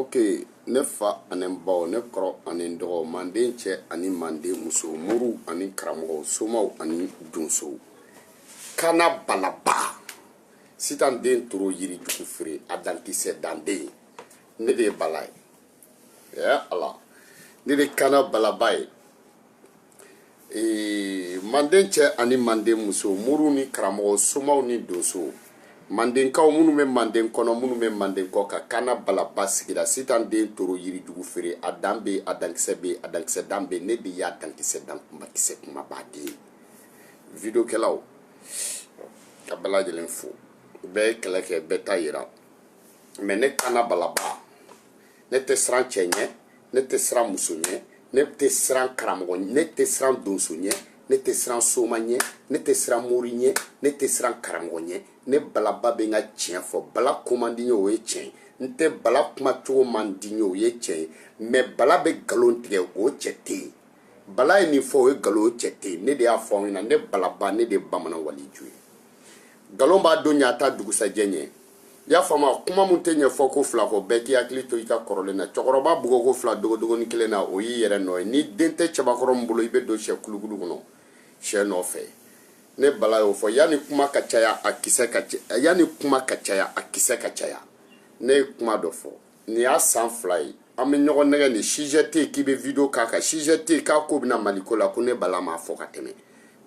ok ne fa ani n baw ne kɔrɔ ani n dɔgɔw manden cɛ ani manden muso moriw ani karamɔgɔw somaw ani donsow kana balaba sitan den toro yiri jugu feere a dankisɛ danden ne de ye bala ye ɛ ala ne de kana balaba ye ee manden cɛ ani manden muso moriw ni karamɔgɔ somaw ni donso mandenkaw minnu bɛ manden kɔnɔ minnu bɛ manden kɔkan kaana balaba sigira sitan den toro yirijugu feere a dan bɛ a dankisɛ bɛ a dankisɛ dan bɛ ne de y'a dankisɛ dan kunbakisɛ kumaba den ye videokɛlaw ka bɛɛ lajɛlen fo bɛɛ ye kɛlɛ kɛ bɛɛ ta yira mais ne kaana balaba ne tɛ siran cɛ ɲɛ ne tɛ siran muso ɲɛ ne tɛ siran karamɔgɔ ɲɛ ne tɛ siran donso ɲɛ ne tɛ siran soma ɲɛ ne tɛ siran mori ɲɛ ne tɛ siran karamɔgɔ ɲɛ ne balaba bɛ n ka tiɲɛ fɔ bala ko man di n ye o ye tiɲɛ ye n tɛ bala kuma cogo man di n ye o ye tiɲɛ ye mais bala bɛ nkalon tigɛ o cɛ tɛ yen bala ye nin fɔ o ye nkalon o cɛ tɛ yen ne de y'a fɔ aw ɲɛna ne balaba ne de ye bamanan waliju ye nkalon b'a don ɲɛ a t'a dugusajɛ ɲɛ i y'a faamu kuma min tɛ ɲɛfɔ ko fila kɔ bɛɛ k'i hakili to i ka kɔrɔlen na cɛkɔrɔba bugɔ ko fila dogodogoni kelen na o y'i yɛrɛ nɔ ye ni den tɛ cɛbakɔrɔ min bolo i bɛ don syɛ kulukulu kɔnɔ syɛ nɔfɛ ne bala y'o fɔ yanni kuma ka caya a kisɛ ka caya yanni kuma ka caya a kisɛ ka caya ne ye kuma dɔ fɔ nin y'a san fila ye an bɛ ɲɔgɔn nɛgɛn ni sujet tɛ yen k'i bɛ video k'a kan sujet tɛ yen k'a ko bɛ na mali ko la ko ne bala m'a fɔ ka tɛmɛ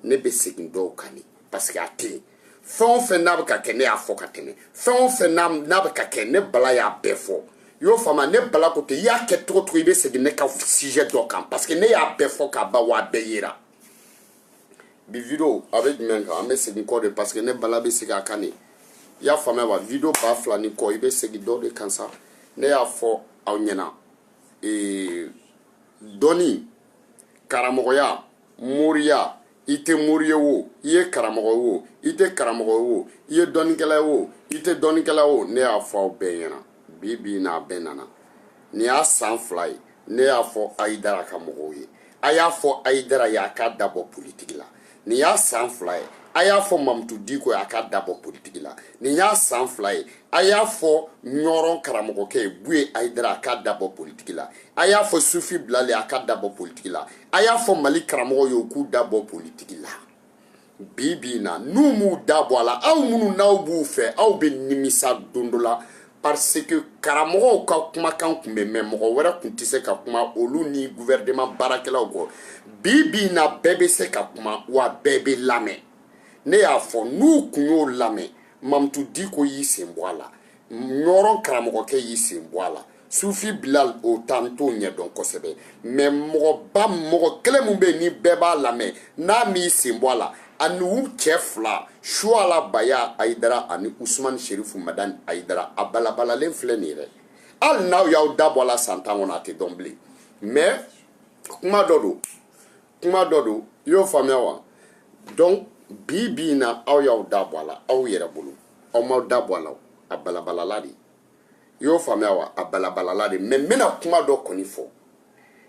ne bɛ segin dɔw kan de parce que a tɛ yen fɛn o fɛn n'a bɛ ka kɛ ne y'a fɔ ka tɛmɛ fɛn o fɛn n'a bɛ ka kɛ ne bala y'a bɛɛ fɔ i y'o faamu ne bala ko ten i y'a kɛ cogo o cogo i bɛ segin ne ka sujet dɔ kan parce que ne y'a bɛɛ fɔ k'a ban wa a bɛɛ yera bi video a bɛ jumɛn kan an bɛ segin kɔ de parce que ne bala bɛ segin a kan de i y'a faamuya wa video ba fila ni kɔ i bɛ segin dɔ de kan sa ne y'a fɔ aw ɲɛna ee dɔnni karamɔgɔya moriya i tɛ mori ye wo i ye karamɔgɔ ye wo i tɛ karamɔgɔ ye wo i ye dɔnnikɛla ye wo i tɛ dɔnnikɛla wo ne y'a fɔ aw bɛɛ ɲɛna bi bi n'a bɛɛ nana nin y'a san fila ye ne y'a fɔ ayidara ka mɔgɔw ye a y'a fɔ ayidara ye a k'a dabɔ politiki la nin y'a san fila ye a y'a fɔ mamutu diko ye a k'a dabɔ politiki la nin y'a san fila ye a y'a fɔ ɲɔrɔn karamɔgɔkɛ ye buye ayidara a k'a dabɔ politiki la a y'a fɔ sufi bilali a k'a dabɔ politiki la a y'a fɔ mali karamɔgɔ ye u k'u da bɔ politiki la bi bi na n'u m'u da bɔ a la aw minnu n'aw b'u fɛ aw bɛ nimisa don dɔ la parce que karamɔgɔw ka kumakan kun bɛ mɛn mɔgɔ wɛrɛ kun tɛ se ka kuma olu ni guvɛrɛnman baarakɛlaw kɔ bi bi na bɛɛ bɛ se ka kuma wa bɛɛ bɛ lamɛn ne y'a fɔ n'u kun y'o lamɛn mamutu diko y'i sen bɔ a la ɲɔrɔn karamɔgɔkɛ y'i sen bɔ a la sufi bilal o ta an t'o ɲɛ dɔn kosɛbɛ mais mɔgɔ kelen min bɛ yen ni bɛɛ b'a lamɛn n'a m'i sen bɔ a la ani u cɛ fila suala baya ayidara ani usumani sherifu madani ayidara a balabalalen filɛ nin yɛrɛ hali n'aw y'aw da bɔ a la san tan kɔnɔ a tɛ dɔn bilen mais kuma dɔ don i y'o faamuya wa donc bi bi in na aw y'aw da bɔ a la aw yɛrɛ bolo aw m'aw da bɔ a la a balabalala de i y'o faamuya wa a balabalala de mais n bɛna kuma dɔ kɔni fɔ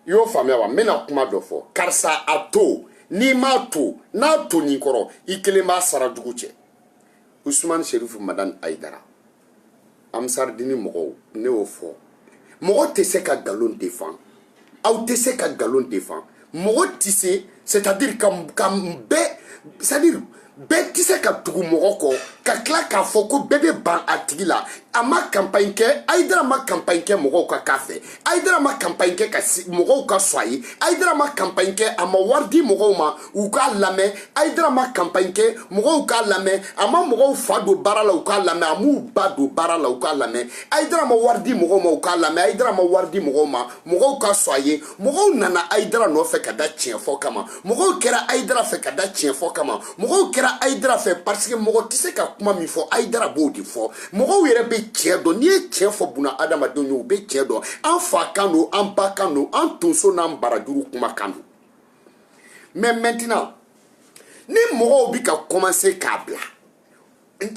i y'o faamuya wa n bɛna kuma dɔ fɔ karisa a to n'i m'a to n'a to nin kɔrɔ i kelen b'a sara dugu cɛ usumani serifu madani ayidara amsaridini mɔgɔw ne y'o fɔ mɔgɔ tɛ se ka nkalon defan aw tɛ se ka nkalon defan mɔgɔ tɛ se c'est à dire ka bɛɛ c'est à dire bɛɛ tɛ se ka tugu mɔgɔ kɔ ka tila k'a fɔ ko bɛɛ bɛ ban a tigi la a ma kanpaɲi kɛ ayidara ma kanpaɲi kɛ mɔgɔw ka k'a fɛ ayidara ma kanpaɲi kɛ ka mɔgɔw ka sɔn a ye ayidara ma kanpaɲi kɛ a ma wari di mɔgɔw ma u k'a lamɛn ayidara ma kanpaɲi kɛ mɔgɔw k'a lamɛn a ma mɔgɔw fa don baara la u k'a lamɛn a m'u ba don baara la u k'a lamɛn ayidara ma wari di mɔgɔw ma u k'a lamɛn ayidara ma wari di mɔgɔw ma mɔgɔw ka sɔn a ye mɔgɔw nana ayidara nɔfɛ ka da tiɲɛ fɔ kama mɔgɔw kɛra ayidara fɛ ka da tiɲɛ fɔ kama mɔgɔw kɛra ayidara fɛ parce que mɔgɔ tɛ se ka kuma min fɔ ayidara b'o de fɔ mɔgɔw yɛrɛ bɛ tiɲɛ dɔn n'i ye tiɲɛ fɔ bunadamadenw ye u bɛ tiɲɛ dɔn an fa kan don an ba kan don an tonso n'an barajuru kuma kan don mais maintenant ni mɔgɔw bi ka commencer k'a bila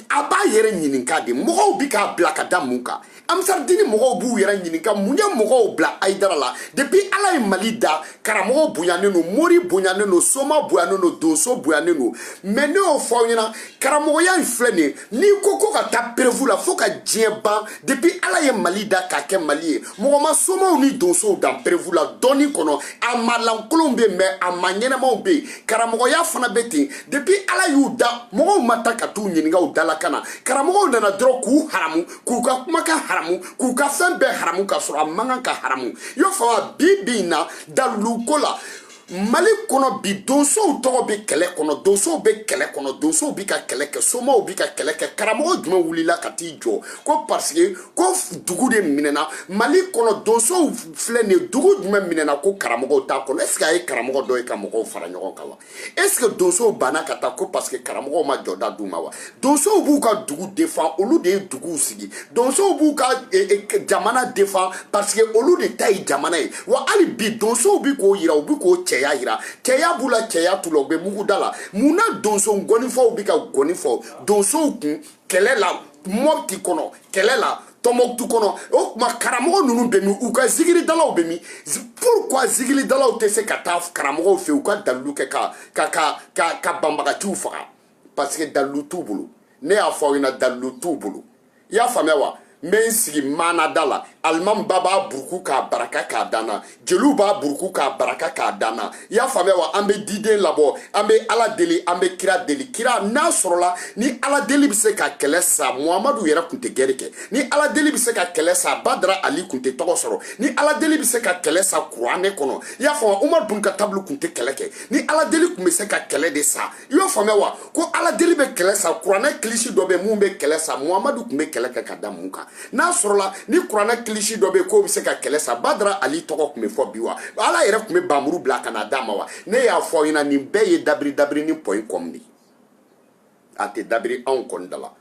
a b'a yɛrɛ ɲininka de mɔgɔw bi k'a bila ka da mun kan amsaridini mɔgɔw b'u yɛrɛ ɲininka mun ye mɔgɔw bila ayidara la depuis ala ye mali da karamɔgɔ bonyanen don mori bonyanen don soma bonyanen don donso bonyanen don mais ne y'o fɔ aw ɲɛna karamɔgɔya in filɛ nin ye n'i ko ko ka taa preuve la fo ka diɲɛ ban depuis ala ye mali da k'a kɛ mali ye mɔgɔ ma somaw ni donsow dan preuve la dɔnni kɔnɔ a maa lankolonw be yen mais a maa ɲɛnamaw be yen karamɔgɔya fana be ten depuis ala y'u da mɔgɔw ma taa ka t'u ɲininka u dalakan na karamɔgɔw nana dɔrɔn k'u haramu k'u ka kumakan haramu k'u ka fɛn bɛɛ haramu k'a sɔrɔ a man kan ka haramu i y'o faamu bi bi in na daliluko la mali kɔnɔ bi donsow tɔgɔ bɛ kɛlɛ kɔnɔ donsow bɛ kɛlɛ kɔnɔ donsow bɛ ka kɛlɛ kɛ somaw bɛ ka kɛlɛ kɛ karamɔgɔ jumɛn wulila ka t'i jɔ ko parce que ko dugu de minɛna mali kɔnɔ donsow filɛ nin ye dugu jumɛn minɛna ko karamɔgɔw t'a kɔnɔ est-ce que a ye karamɔgɔ dɔ ye ka mɔgɔw fara ɲɔgɔn kan wa est-ce que donsow banna ka taa ko parce que karamɔgɔw ma jɔda d'u ma wa donsow b'u ka dugu defan olu de ye duguw sigi donsow b'u ka e, e, jamana defan parce que olu de ta ye jamana ye wa hali bi donsow bi k'o yira u bi k'u cɛya yira cɛya b'u la cɛya t'u la u bɛ mugu da la mun na donso gɔnifɔw bi ka gɔni fɔ donsow kun kɛlɛ la mɔpti kɔnɔ kɛlɛ la tɔnbɔkutu kɔnɔ o tuma karamɔgɔ ninnu bɛ min u ka zigiridalaw bɛ min pourquoi zigiridalaw tɛ se ka taa karamɔgɔw fɛ u ka dalilu kɛ ka ka ka ka ka banbagaciw faga parce que dalilu t'u bolo ne y'a fɔ aw ɲɛna dalilu t'u bolo i y'a faamuya wa n bɛ n sigi maanada la alimami ba b'a buruku k'a baraka k'a danna jeliw b'a buruku k'a baraka k'a danna i y'a faamuya wa an bɛ diden labɔ an bɛ ala deli an bɛ kira deli kira n'a sɔrɔla ni ala deli bɛ se ka kɛlɛ sa muhamadu yɛrɛ tun tɛ gɛrɛ kɛ ni ala deli bɛ se ka kɛlɛ sa badara ali tun tɛ tɔgɔ sɔrɔ ni ala deli bɛ se ka kɛlɛ sa kuranɛ kɔnɔ i y'a faamuya umaru bun katabu tun tɛ kɛlɛ kɛ ni ala deli tun bɛ se ka kɛlɛ de sa i y'o faamuya wa ko ala deli bɛ kɛlɛ sa kuranɛ kilisi dɔ bɛ min bɛ kɛlɛ sa muhamadu tun bɛ kɛlɛ kɛ ka da mun kan n'a sɔrɔla ni kuranɛ kilisi dɔ bɛ k'o bɛ se ka kɛlɛ sa badara ali tɔgɔ tun bɛ fɔ bi wa ala yɛrɛ tun bɛ bamuru bila ka na d'a ma wa ne y'a fɔ aw ɲɛna nin bɛɛ ye dabiri dabiri ni point com de ye a tɛ dabiri anw kɔni da la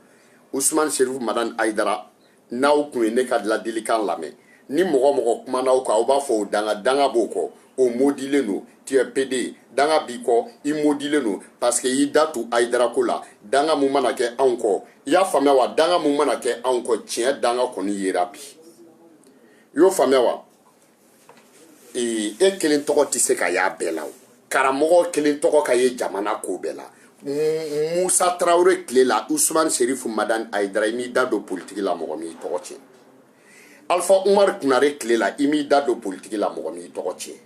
usumani serifu madani ayidara n'aw kun ye ne ka ladilikan lamɛn ni mɔgɔ o mɔgɔ kumana aw kan aw b'a fɔ o danga danga b'o kɔ o modilen don tu es pede danga b'i kɔ i modilen don parce que i y'i da tu ayidara ko la danga mun mana kɛ anw kɔ i y'a faamuya wa danga mun mana kɛ anw kɔ tiɲɛ danga kɔni yera bi i y'o faamuya wa e kelen tɔgɔ tɛ se ka y'a bɛɛ la o karamɔgɔ kelen tɔgɔ ka ye jamana ko bɛɛ la musa tarawele tile la usumani serifu madani ayidara i m'i da don politiki la mɔgɔ m'i tɔgɔ tiɲɛ alifa umar kunare tile la i m'i da don politiki la mɔgɔ m'i tɔgɔ tiɲɛ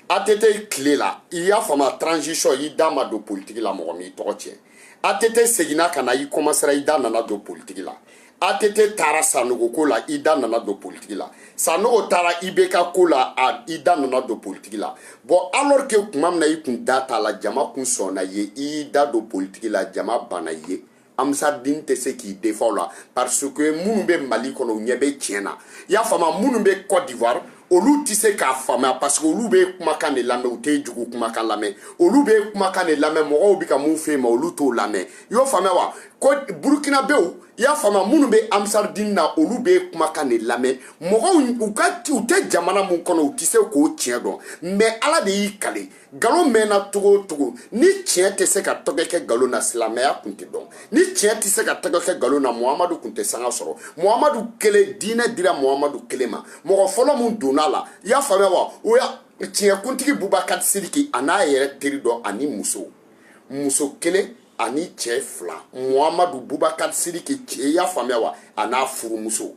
att tile la i y'a faamu transition i da ma don politiki la mɔgɔ m'i tɔgɔ tiɲɛ ATT seginna ka na i kɔmasera i da nana don politiki la ATT taara Sanogo ko la i da nana don politiki la Sanogo taara IBK ko la a i da nana don politiki la bɔn alors que tuma min na i kun da t'a la jama kun sɔnna i ye i y'i da don politiki la jama banna i ye ansaridini tɛ se k'i defan la parce que minnu bɛ mali kɔnɔ u ɲɛ bɛ tiɲɛ na i y'a faamu minnu bɛ cote d'ivoire olu tɛ se k'a faamuya parce que olu b'e kumakan de lamɛn u t'e jugu kumakan lamɛn olu b'e kumakan de lamɛn mɔgɔw bɛ ka mun f'e ma olu t'o lamɛn i y'o faamuya wa ko burukinabɛw i y'a faamuya minnu bɛ amsaridini na olu b'e kumakan de lamɛn mɔgɔw u tɛ jamana mun kɔnɔ u tɛ se k'o tiɲɛ dɔn mɛ ala de y'i kale nkalon mɛnna cogo o cogo ni tiɲɛ tɛ se ka tɔgɔ kɛ nkalon na silamɛya tun tɛ dɔn ni tiɲɛ tɛ se ka tɔgɔ kɛ nkalon na muhamadu tun tɛ sanga sɔrɔ muhamadu kelen diinɛ dira muhamadu kelen ma mɔgɔ fɔlɔ min donna a la i y'a faamuya wa o ye tiɲɛkuntigi bubakari sidiki a n'a yɛrɛ teri dɔ ani muso muso kelen ani cɛ fila muhamadu bubakari sidiki cɛ i y'a faamuya wa a n'a furumuso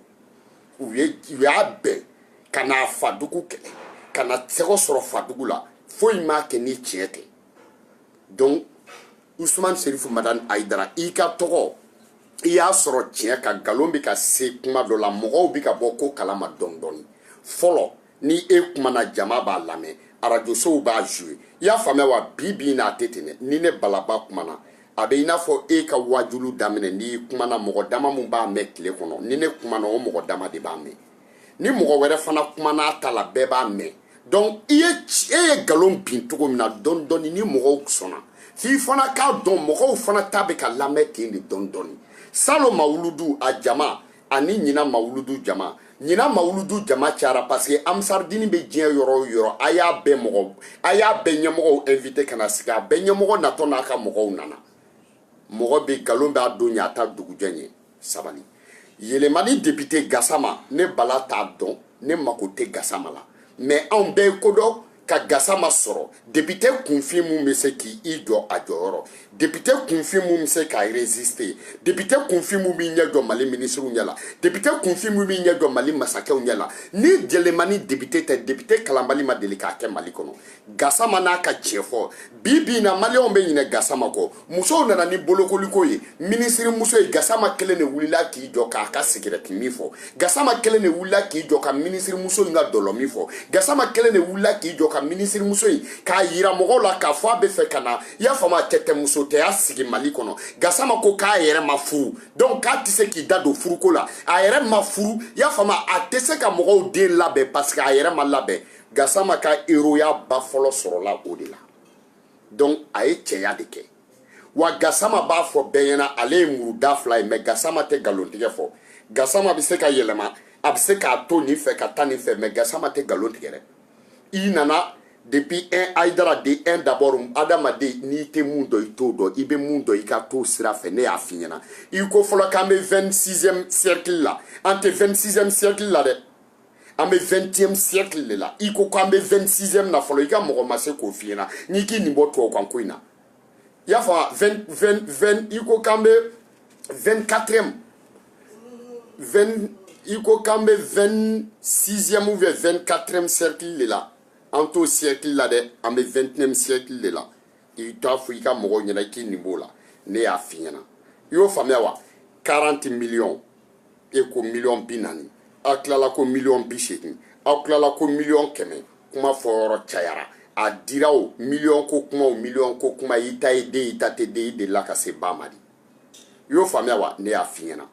u y'a gɛn ka n'a fadugu kɛlɛ ka na tɛgɛ sɔrɔ fadugu la foyi m'a kɛ ni tiɲɛ tɛ donc usman serifu madani ayidara i ka tɔgɔ i y'a sɔrɔ tiɲɛ kan nkalon bɛ ka se kuma dɔ la mɔgɔw bɛ ka bɔ ko kalama dɔɔni dɔɔni fɔlɔ ni e kumana jama b'a lamɛn arajosow b'a joue i y'a faamuya wa bi bi na a tɛ ten dɛ ni ne balaba kumana a bɛ i n'a fɔ e ka waajulu daminɛ n'i kumana mɔgɔ dama min b'a mɛn tile kɔnɔ ni ne kumana o mɔgɔ dama de b'a mɛn ni mɔgɔ wɛrɛ fana kumana a ta la bɛɛ b'a mɛn donc i ye e ye nkalon bin cogo min na dɔɔni dɔɔni ni mɔgɔw sɔnna f'i fana k'a dɔn mɔgɔw fana ta bɛ ka lamɛn ten de dɔɔni dɔɔni salon mawuludu a jama ani ɲina mawuludu jama ɲina mawuludu jama cayara paseke amsaridini bɛ diɲɛ yɔrɔ o yɔrɔ a y'a bɛɛ mɔgɔ a y'a bɛɛ ɲɛmɔgɔw invite ka na sigi a bɛɛ ɲɛmɔgɔ natɔ n'a ka mɔgɔw nana mɔgɔ bɛ nkalon b'a don ɲɛ a t'a dugujɛ ɲɛ sabali yelemani depite gasama ne bala t'a dɔn ne mako tɛ gasama la mɛ anw bɛɛ ye ko dɔn ka gasama sɔrɔ depite kunfin mun bɛ se k'i jɔ a jɔyɔrɔ depite kunfin mun bɛ se ka resiste depite kunfin mun b'i ɲɛ jɔ mali minisiriw ɲɛ la depite kunfin mun b'i ɲɛ jɔ mali masakɛw ɲɛ la ni yelemani depite tɛ depite kalanbali ma deli k'a kɛ mali kɔnɔ gasama n'a ka tiɲɛfɔ bi bi in na maliyɛnw bɛ ɲinɛ gasama kɔ musow nana ni bolokoliko ye minisirimuso ye gasama kelen de wulila k'i jɔ k'a ka sigirɛtimin fɔ gasama kelen de wulila k'i jɔ ka minisirimuso in ka dɔlɔmin fɔ gasama kelen de wulila k'i jɔ ka minisirimuso in k'a yira mɔgɔw la k'a fɔ a bɛ fɛ ka na i y'a faamu a cɛtɛmusotɛya sigi mali kɔnɔ gasama ko k'a yɛrɛ ma furu donc k'a tɛ se k'i da don furuko la a yɛrɛ ma furu i y'a faamu a tɛ se ka mɔgɔw den labɛn parce que a yɛrɛ ma labɛn gasama ka eroya ba fɔlɔ sɔrɔla o de la donc a ye cɛya de kɛ wa gasama b'a fɔ bɛɛ ɲɛna ale ye muruda fila ye mɛ gasama tɛ galon tigɛ fɔ gasama bɛ se ka yɛlɛma a bɛ se k'a to nin fɛ ka taa nin fɛ mɛ gasama tɛ galon tigɛ dɛ i nana depuis hein ayidara de un d'abord adamaden n'i tɛ mun dɔn i t'o dɔn i bɛ mun dɔn i ka t'o sira fɛ ne y'a f'i ɲɛna i ko fɔlɔ k'an bɛ 26e siècle la an tɛ 26e siècle la dɛ an bɛ 21e siècle de la i ko ko an bɛ 26e na fɔlɔ i ka mɔgɔ ma se k'o f'i ɲɛna n'i k'i nin bɔ tubabukan ko in na i y'a faamu 20 20 20 i ko k'an bɛ 24e 20 i ko k'an bɛ 26e ou bien 24e siècle de la an t'o siècle la dɛ an bɛ 21e siècle de la i t'a fɔ i ka mɔgɔw ɲɛna k'i nin b'o la ne y'a f'i ɲɛna i y'o faamuya wa 40 millions e ko miliyɔn bi naani aw tilala ko miliyɔn bi seegin aw tilala ko miliyɔn kɛmɛ kuma fɔ yɔrɔ cayara a dira o miliyɔn ko kuma o miliyɔn ko kuma i ta ye den i ta tɛ den i delila ka se ba ma di i y'o faamuya wa ne y'a f'i ɲɛna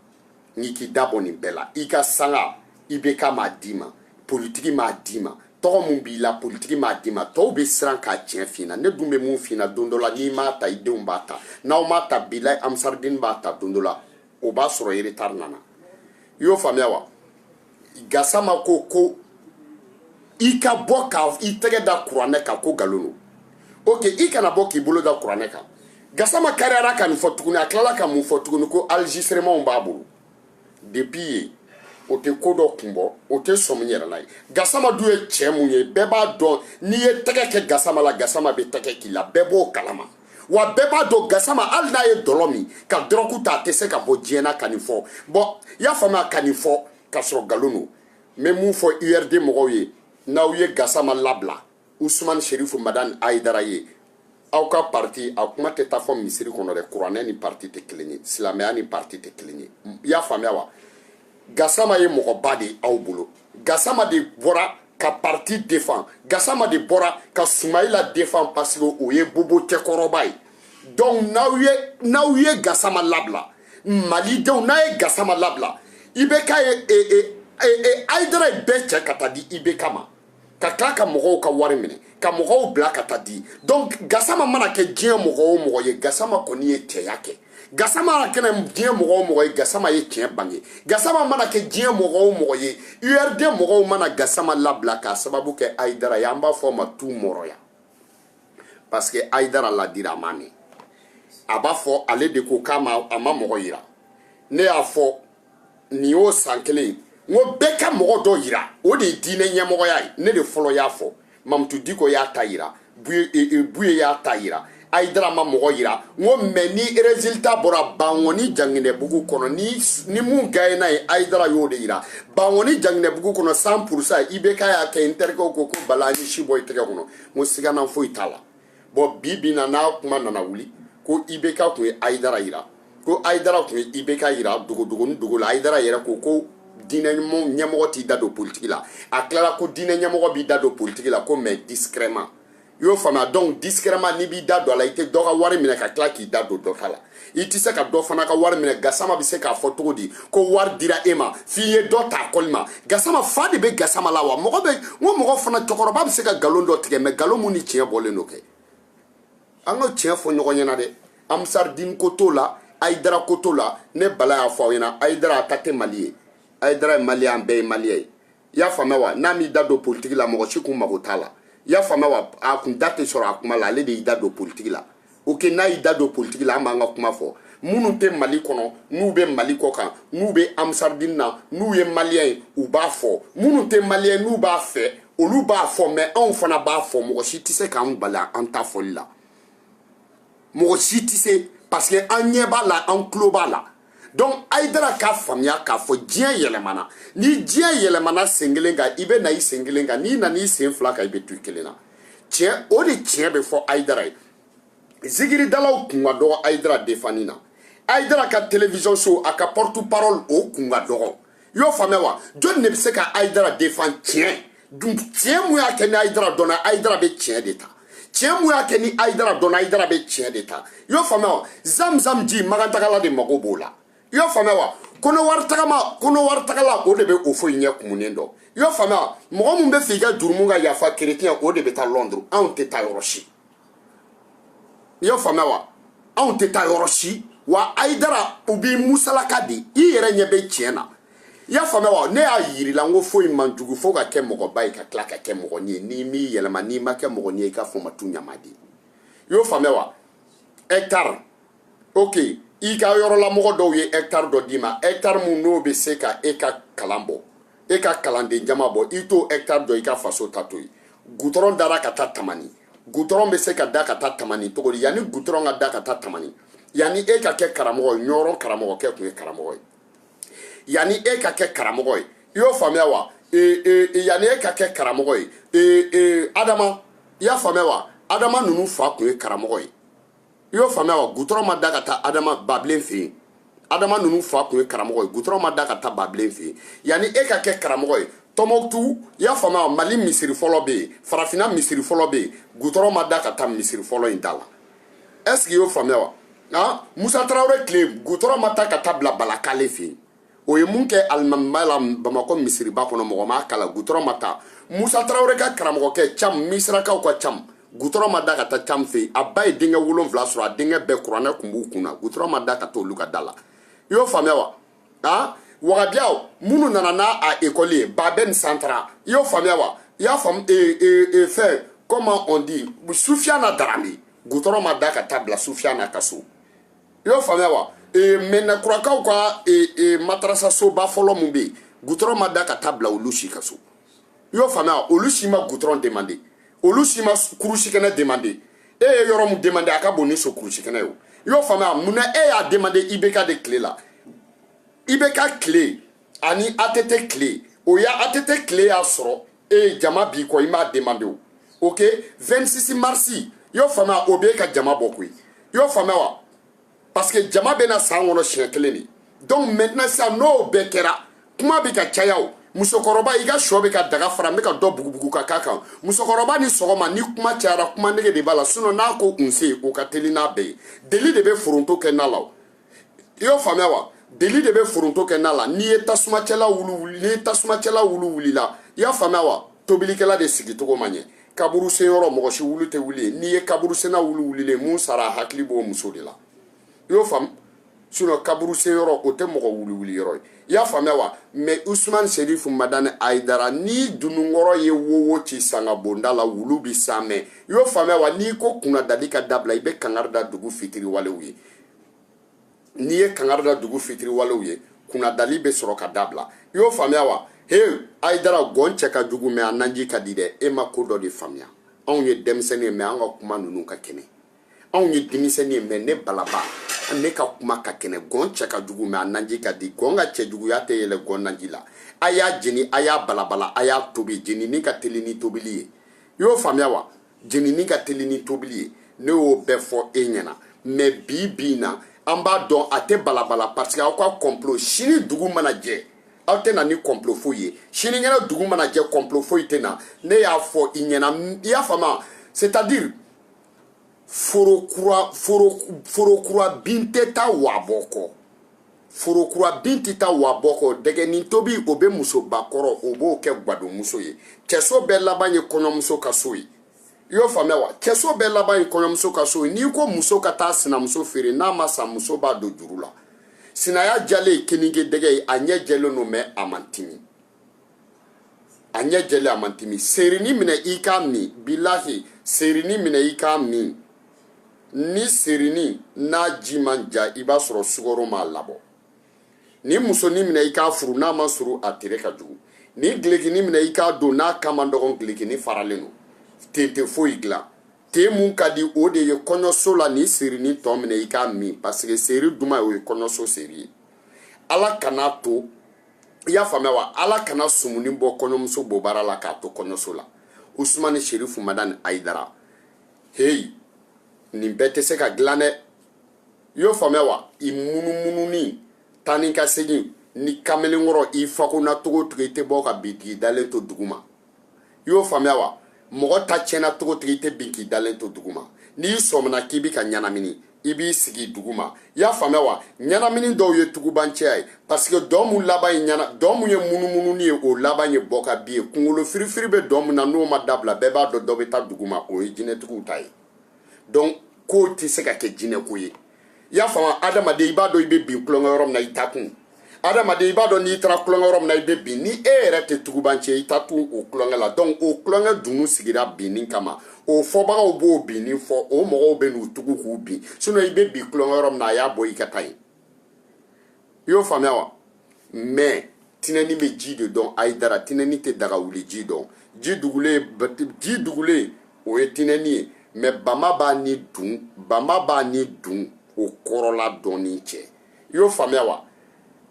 n'i k'i da bɔ nin bɛɛ la i ka sanga ibk m'a d'i ma politiki m'a d'i ma tɔgɔ min b'i la politiki m'a d'i ma tɔw bɛ siran ka tiɲɛ f'i ɲɛna ne dun bɛ mun f'i ɲɛna don dɔ la n'i m'a ta i denw b'a ta n'aw m'a ta bi la ansaridini b'a ta don dɔ la o b'a sɔrɔ retard nana i y'o faamuya wa gasama ko ko i ka bɔ ka i tɛgɛ da kuranɛ kan ko nkalon don ok i kana bɔ k'i bolo da kuranɛ kan gasama kariyara ka nin fɔ tuguni a tilala ka mun fɔ tuguni ko enregistrementw b'a bolo depuis yen o tɛ ko dɔ kun bɔ o tɛ sɔmi yɛrɛ la ye gasama dun ye cɛ mun ye bɛɛ b'a dɔn n'i ye tɛgɛ kɛ gasama la gasama bɛ tɛgɛ k'i la bɛɛ b'o kalama wa bɛɛ b'a dɔn gasama hali n'a ye dɔlɔ min ka dɔrɔgu ta a tɛ se ka bɔ diɲɛ na ka nin fɔ bon i y'a faamuya ka nin fɔ ka sɔrɔ nkalon don n bɛ mun fɔ urd mɔgɔw ye n'aw ye gasama labila usumani serifu madani ayidara ye aw ka parti a kuma tɛ taa fɔ misiri kɔnɔ dɛ kuranɛ ni parti tɛ kelen ye silamɛya ni parti tɛ kelen ye i y'a faamuya wa gasama ye mɔgɔba de aw bolo gasama de bɔra ka parti défend gasama de bɔra ka sumayila défend parce que o ye bobo cɛkɔrɔba ye donc n'aw ye n'aw ye gasama labila malidenw n'a ye gasama labila ibk ye e, e, e, e, ayidara ye bɛɛ cɛ ka taa di ibk ma ka tila ka mɔgɔw ka wari minɛ ka mɔgɔw bila ka taa di donc gasama mana kɛ diɲɛ mɔgɔ o mɔgɔ ye gasama kɔni ye cɛya kɛ gasama mana kɛ diɲɛ mɔgɔ o mɔgɔ ye gasama ye tiɲɛ bange gasama mana kɛ diɲɛ mɔgɔ o mɔgɔ ye urd mɔgɔw mana gasama labila k'a sababu kɛ ayidara ye an b'a fɔ o ma tu mɔrɔya parce que ayidara laadira a ma mɛn a b'a fɔ ale de ko k'a ma a ma mɔgɔ yira ne y'a fɔ nin y'o san kelen ye n ko bɛɛ ka mɔgɔ dɔ yira o de ye diinɛ ɲɛmɔgɔya ye ne de fɔlɔ y'a fɔ mamutu diko y'a ta yira buye e, e, y'a ta yira ayidara ma mɔgɔ yira n ko mais ni résultat bɔra bankoni janginɛbugu kɔnɔ ni ni mun gaɲena yen ayidara y'o de yira bankoni janginɛbugu kɔnɔ cent pour cent ibk y'a kɛ n terikɛw ko ko bala an ye si bɔ i tɛgɛ kɔnɔ n ko sigana foyi t'a la bɔn bi bi na n'a kuma nana wuli ko ibeka tun ye ayidara yira ko ayidara tun ye ibeka yira dogodogoni dogo la ayidara yɛrɛ ko ko diinɛ ɲɛmɔgɔ t'i da don politiki la a tilala ko diinɛ ɲɛmɔgɔ b'i da don politiki la ko mɛ discrètement i y'o faamuya donc discrètement n'i b'i da don a la i tɛ dɔ ka wari minɛ ka tila k'i da don dɔ ta la i tɛ se ka dɔ fana ka wari minɛ gasama bɛ se k'a fɔ cogo di ko wari dira e ma f'i ye dɔ ta kɔli ma gasama fa de bɛ gasama la wa mɔgɔ bɛ n ko mɔgɔ fana cɛkɔrɔba bɛ se ka nkalon dɔ tigɛ mɛ nkalon mun ni tiɲɛ bɔlen don kɛ an ka tiɲɛ fɔ ɲɔgɔn ɲɛna dɛ amsaridini ko t'o la ayidara ko t'o la ne bala y'a fɔ aw ɲɛna ayidara a ta tɛ mali ye ayidara ye maliyɛn an bɛɛ ye maliyɛn ye i y'a faamuya wa n'a m'i da don politiki la mɔgɔ si kun mago t'a la i y'a faamuya wa a kun da tɛ sɔrɔ a kuma la ale de y'i da don politiki la ok n'a y'i da don politiki la an b'an ka kuma fɔ minnu tɛ mali kɔnɔ n'u bɛ mali kɔ kan n'u bɛ amsaridini na n'u ye maliyɛn ye u b'a fɔ minnu tɛ maliyɛn n'u b'a fɛ olu b'a fɔ mɛ anw fana b'a fɔ mɔgɔ si tɛ se k'an bali an ta fɔli la mɔgɔ si tɛ se parce que an ɲɛ b'a la an tulo b'a la donc ayidara k'a faamuya k'a fɔ diɲɛ yɛlɛmana ni diɲɛ yɛlɛmana sen kelen kan i bɛ na i sen kelen kan n'i nana i sen fila kan i bɛ to i kelen na tiɲɛ o de tiɲɛ bɛ fɔ ayidara ye zikiridalaw kun ka dɔgɔ ayidara defani na ayidara ka television so a ka porte parole o kun ka dɔgɔ i y'o faamuya wa jɔn de bɛ se ka ayidara defan tiɲɛ dun tiɲɛ mun y'a kɛ ni ayidara dɔnna ayidara bɛ tiɲɛ de ta tiɲɛ mun y'a kɛ ni ayidara dɔnna ayidara bɛ tiɲɛ de ta i y'o faamuya wa zamzam ji makantagala de mago b'o la i y'o faamuya wa kɔnɔwari tagala o de bɛ houphouët ɲɛ kumunen dɔn i y'o faamuya wa mɔgɔ min bɛ fɛ i ka jurumu ka yafa kerecɛn o de bɛ taa lɔnduru anw tɛ taa yɔrɔ si i y'o faamuya wa anw tɛ taa yɔrɔ si wa ayidara u b'i musalaka de i yɛrɛ ɲɛ bɛ tiɲɛ na i y'a faamuya wa ne y'a yir'i la n ko foyi man jugu fo ka kɛ mɔgɔba ye ka tila ka kɛ mɔgɔnin ye n'i m'i yɛlɛma n'i ma kɛ mɔgɔnin ye i ka fɔ ma tu ɲama de i y'o faamuya wa hɛkitari ok i ka yɔrɔlamɔgɔ dɔw ye hɛkitari dɔ d'i ma hɛkitari min n'o bɛ se ka e ka kalan bɔ e ka kalanden jama bɔ i t'o hɛkitari dɔ i ka faso ta to yen gutɔrɔn dara ka taa tamani gutɔrɔn bɛ se ka da ka taa tamani cogo di yanni gutɔrɔn ka da ka taa tamani yanni e ka kɛ karamɔgɔ ye ɲɔrɔn karamɔgɔkɛ tun ye karamɔgɔ ye yanni e ka kɛ karamɔgɔ ye i y'o faamuya wa ee ee yanni e ka kɛ karamɔgɔ ye ee ee adama i y'a faamuya wa adama ninnu fa tun ye karamɔgɔ ye i y'o faamuya wa gutɔrɔn ma da ka taa adama babilen fɛ yen adama ninnu fa tun ye karamɔgɔ ye gutɔrɔn ma da ka taa babilen fɛ yen yanni e ka kɛ karamɔgɔ ye tɔnbukutu i y'a faamuya wa mali misiri fɔlɔ bɛ yen farafinna misiri fɔlɔ bɛ yen gutɔrɔn ma da ka taa misiri fɔlɔ in da la est-ce que i y'o faamuya wa musa tarawele tile gutɔrɔn ma ta ka taa bila balakale fɛ yen o ye mun kɛ alimamiba la bamakɔ misiriba kɔnɔ mɔgɔ ma kala gutɔrɔn ma ta musa tarawele ka karamɔgɔkɛ cam misirakaw ka cam gutɔrɔn ma da ka taa cam fɛ a ba ye denkɛ wolonfila sɔrɔ a denkɛ bɛɛ kuranɛ kun b'u kun na gutɔrɔn ma da ka t'olu ka da la i y'o faamuya wa a wahabiyaw minnu nana n'a a ekɔli ye babɛn santara i y'o faamuya wa i y'a faamu e, e, e, fɛn comment on dit sufiyana darame gutɔrɔn ma da ka taa bila sufiyana ka so i y'o faamuya wa ee, madina kurakaw ka ee, ee, madarasasoba fɔlɔ min bɛ yen gutɔrɔn ma da ka taa bila olu si ka so i y'o faamuya olu si ma gutɔrɔn demande olu si ma kurusikɛnɛ demande e ye yɔrɔ min demande a ka bon ni so kurusikɛnɛ ye o i y'o faamuya munna e y'a demande ibeka de tile la ibeka tile ani att tile o ya att tile y'a sɔrɔ e ye jama b'i kɔ i m'a demande o ok 26 marsi i y'o faamuya o b'e ka jama bɔ koyi i y'o faamuya wa parce que jama bɛ na san kɔnɔ siɲɛ kelen de donc maintenant sisan n'o bɛɛ kɛra kuma bɛ ka caya o musokɔrɔba i ka sɔ bɛ ka daga fara n bɛ ka dɔ bugubugu ka k'a kan musokɔrɔba i ni sɔgɔma ni kuma cayara kuma nege de b'a la sinon n'a ko nse o ka teli n'a bɛɛ ye deli de bɛ foronto kɛ na la o i y'o faamuya wa deli de bɛ foronto kɛ na la n'i ye tasumacɛla wulu wuli n'i ye tasumacɛla wulu wulila i y'a faamuya wa tobilikɛla de sigicogo ma ɲɛ kaburu sen yɔrɔ mɔgɔ si wulu tɛ wuli n'i ye kaburu senna wulu wulilen min sara a hakili b'o muso de la i y'o faamu sinon kaburu sen yɔrɔ o tɛ mɔgɔ wulu wuli yɔrɔ ye i y'a faamuya wa mɛ usumani serifu madani ayidara ni dununkɔrɔ ye wowo ci sanga bonda la wulu bi san mɛ i y'o faamuya wa n'i ko kunnadali ka dabila i bɛ kangari da dugu fitiriwalew ye n'i ye kangari da dugu fitiriwalew ye kunnadali bɛ sɔrɔ ka dabila i y'o faamuya wa he ayidara gɔn cɛ ka jugu mɛ a naji ka di dɛ e ma ko dɔ de faamuya anw ye denmisɛnnin ye mɛ an ka kuma ninnu ka kɛnɛ anw ye denmisɛnnin ye mɛ ne balaba ne ka kuma ka kɛnɛ gɔn cɛ ka jugu mɛ a naji ka di gɔn ka cɛjuguya tɛ yɛlɛ gɔn naji la a y'a jeni a y'a balabala a y'a tobi jenini ka teli ni tobili ye i y'o faamuya wa jenini ka teli ni tobili ye ne y'o bɛɛ fɔ e ɲɛna mɛ bi bi na an b'a dɔn a tɛ balabala parce que aw ka kɔnplo sini dugu mana jɛ aw tɛ na ni kɔnplo foyi ye sinikɛnɛ dugu mana jɛ kɔnplo foyi tɛ na ne y'a fɔ i ɲɛna i y'a faamu c'est à dire foro kura foro foro kura bin tɛ taa wa bɔ kɔ forokura bin tɛ taa wa bɔ kɔ dɛgɛnin tobi o bɛ musoba kɔrɔ o b'o kɛ gwadonmuso ye cɛso bɛɛ laban ye kɔɲɔmuso ka so ye i y'o faamuya wa cɛso bɛɛ laban ye kɔɲɔmuso ka so ye n'i ko muso ka taa sinamuso feere n'a ma san muso b'a don juru la sinaya jalen ye keninge dɛgɛ ye a ɲɛ jɛlen don mɛ a man timi a ɲɛ jɛlen a man timi seerini minɛ i k'a min bilahi seerini minɛ i k'a min ni seerini n'a ji ma ja i b'a sɔrɔ sukaro m'a labɔ ni musonin minɛ i k'a furu n'a man surun a tere ka jugu ni gilekini minɛ i k'a don n'a kan man dɔgɔn gilekini faralen don ten tɛ foyi dilan te mun ka di o de ye kɔɲɔso la ni seerini tɔ minɛ i k'a min pasike seeri duman o ye kɔɲɔso seeri ye ala kana to i y'a faamuya wa ala kana sumuni bɔ kɔɲɔmuso bobara la k'a to kɔɲɔso la usumani sherifu madani ayidara heyi nin bɛɛ tɛ se ka dilan dɛ i y'o faamuya wa i munumununi taa ni ka segin ni kamalenkɔrɔ i fagonna cogo o cogo i tɛ bɔ ka bin k'i dalen to duguma i y'o faamuya wa mɔgɔ ta tiɲɛna cogo o cogo i tɛ bin k'i dalen to dugu ma n'i sɔmina k'i bi ka ɲɛnamini i b'i sigi dugu ma i y'a faamuya wa ɲɛnamini dɔw ye tugubancɛya ye pasike dɔn mun laban ye ɲɛna dɔn mun ye munumununi ye o laban ye bɔ ka bin ye kungolo firifiri bɛ dɔn mun na n'o ma dabila bɛɛ b'a dɔn dɔ bɛ taa dugu ma o ye jinɛtigiw ta ye donc k'o tɛ se ka kɛ jinɛko ye i y'a faamu adamaden i b'a dɔn i bɛ bin tulonkɛ yɔrɔ min na i taa kun adamaden i b'a dɔn n'i taara tulonkɛ yɔrɔ min na i bɛ bin ni e yɛrɛ tɛ tugubancɛ i taa kun o tulonkɛ la donc o tulonkɛ dunun sigira binni kama o fɔbagaw b'o binni fɔ o mɔgɔw bɛ n'u tugu k'u bin sinon i bɛ bin tulonkɛ yɔrɔ min na a y'a bɔ i ka taa yen i y'o faamuya wa mɛ tinɛni bɛ ji de dɔn ayidara tinɛni tɛ daga wuli ji dɔn ji dugulen ji dugulen o ye tinɛni ye mɛ bama b'a ni dun bama b'a ni dunw kɔrɔla dɔnni cɛ i y'o faamuya wa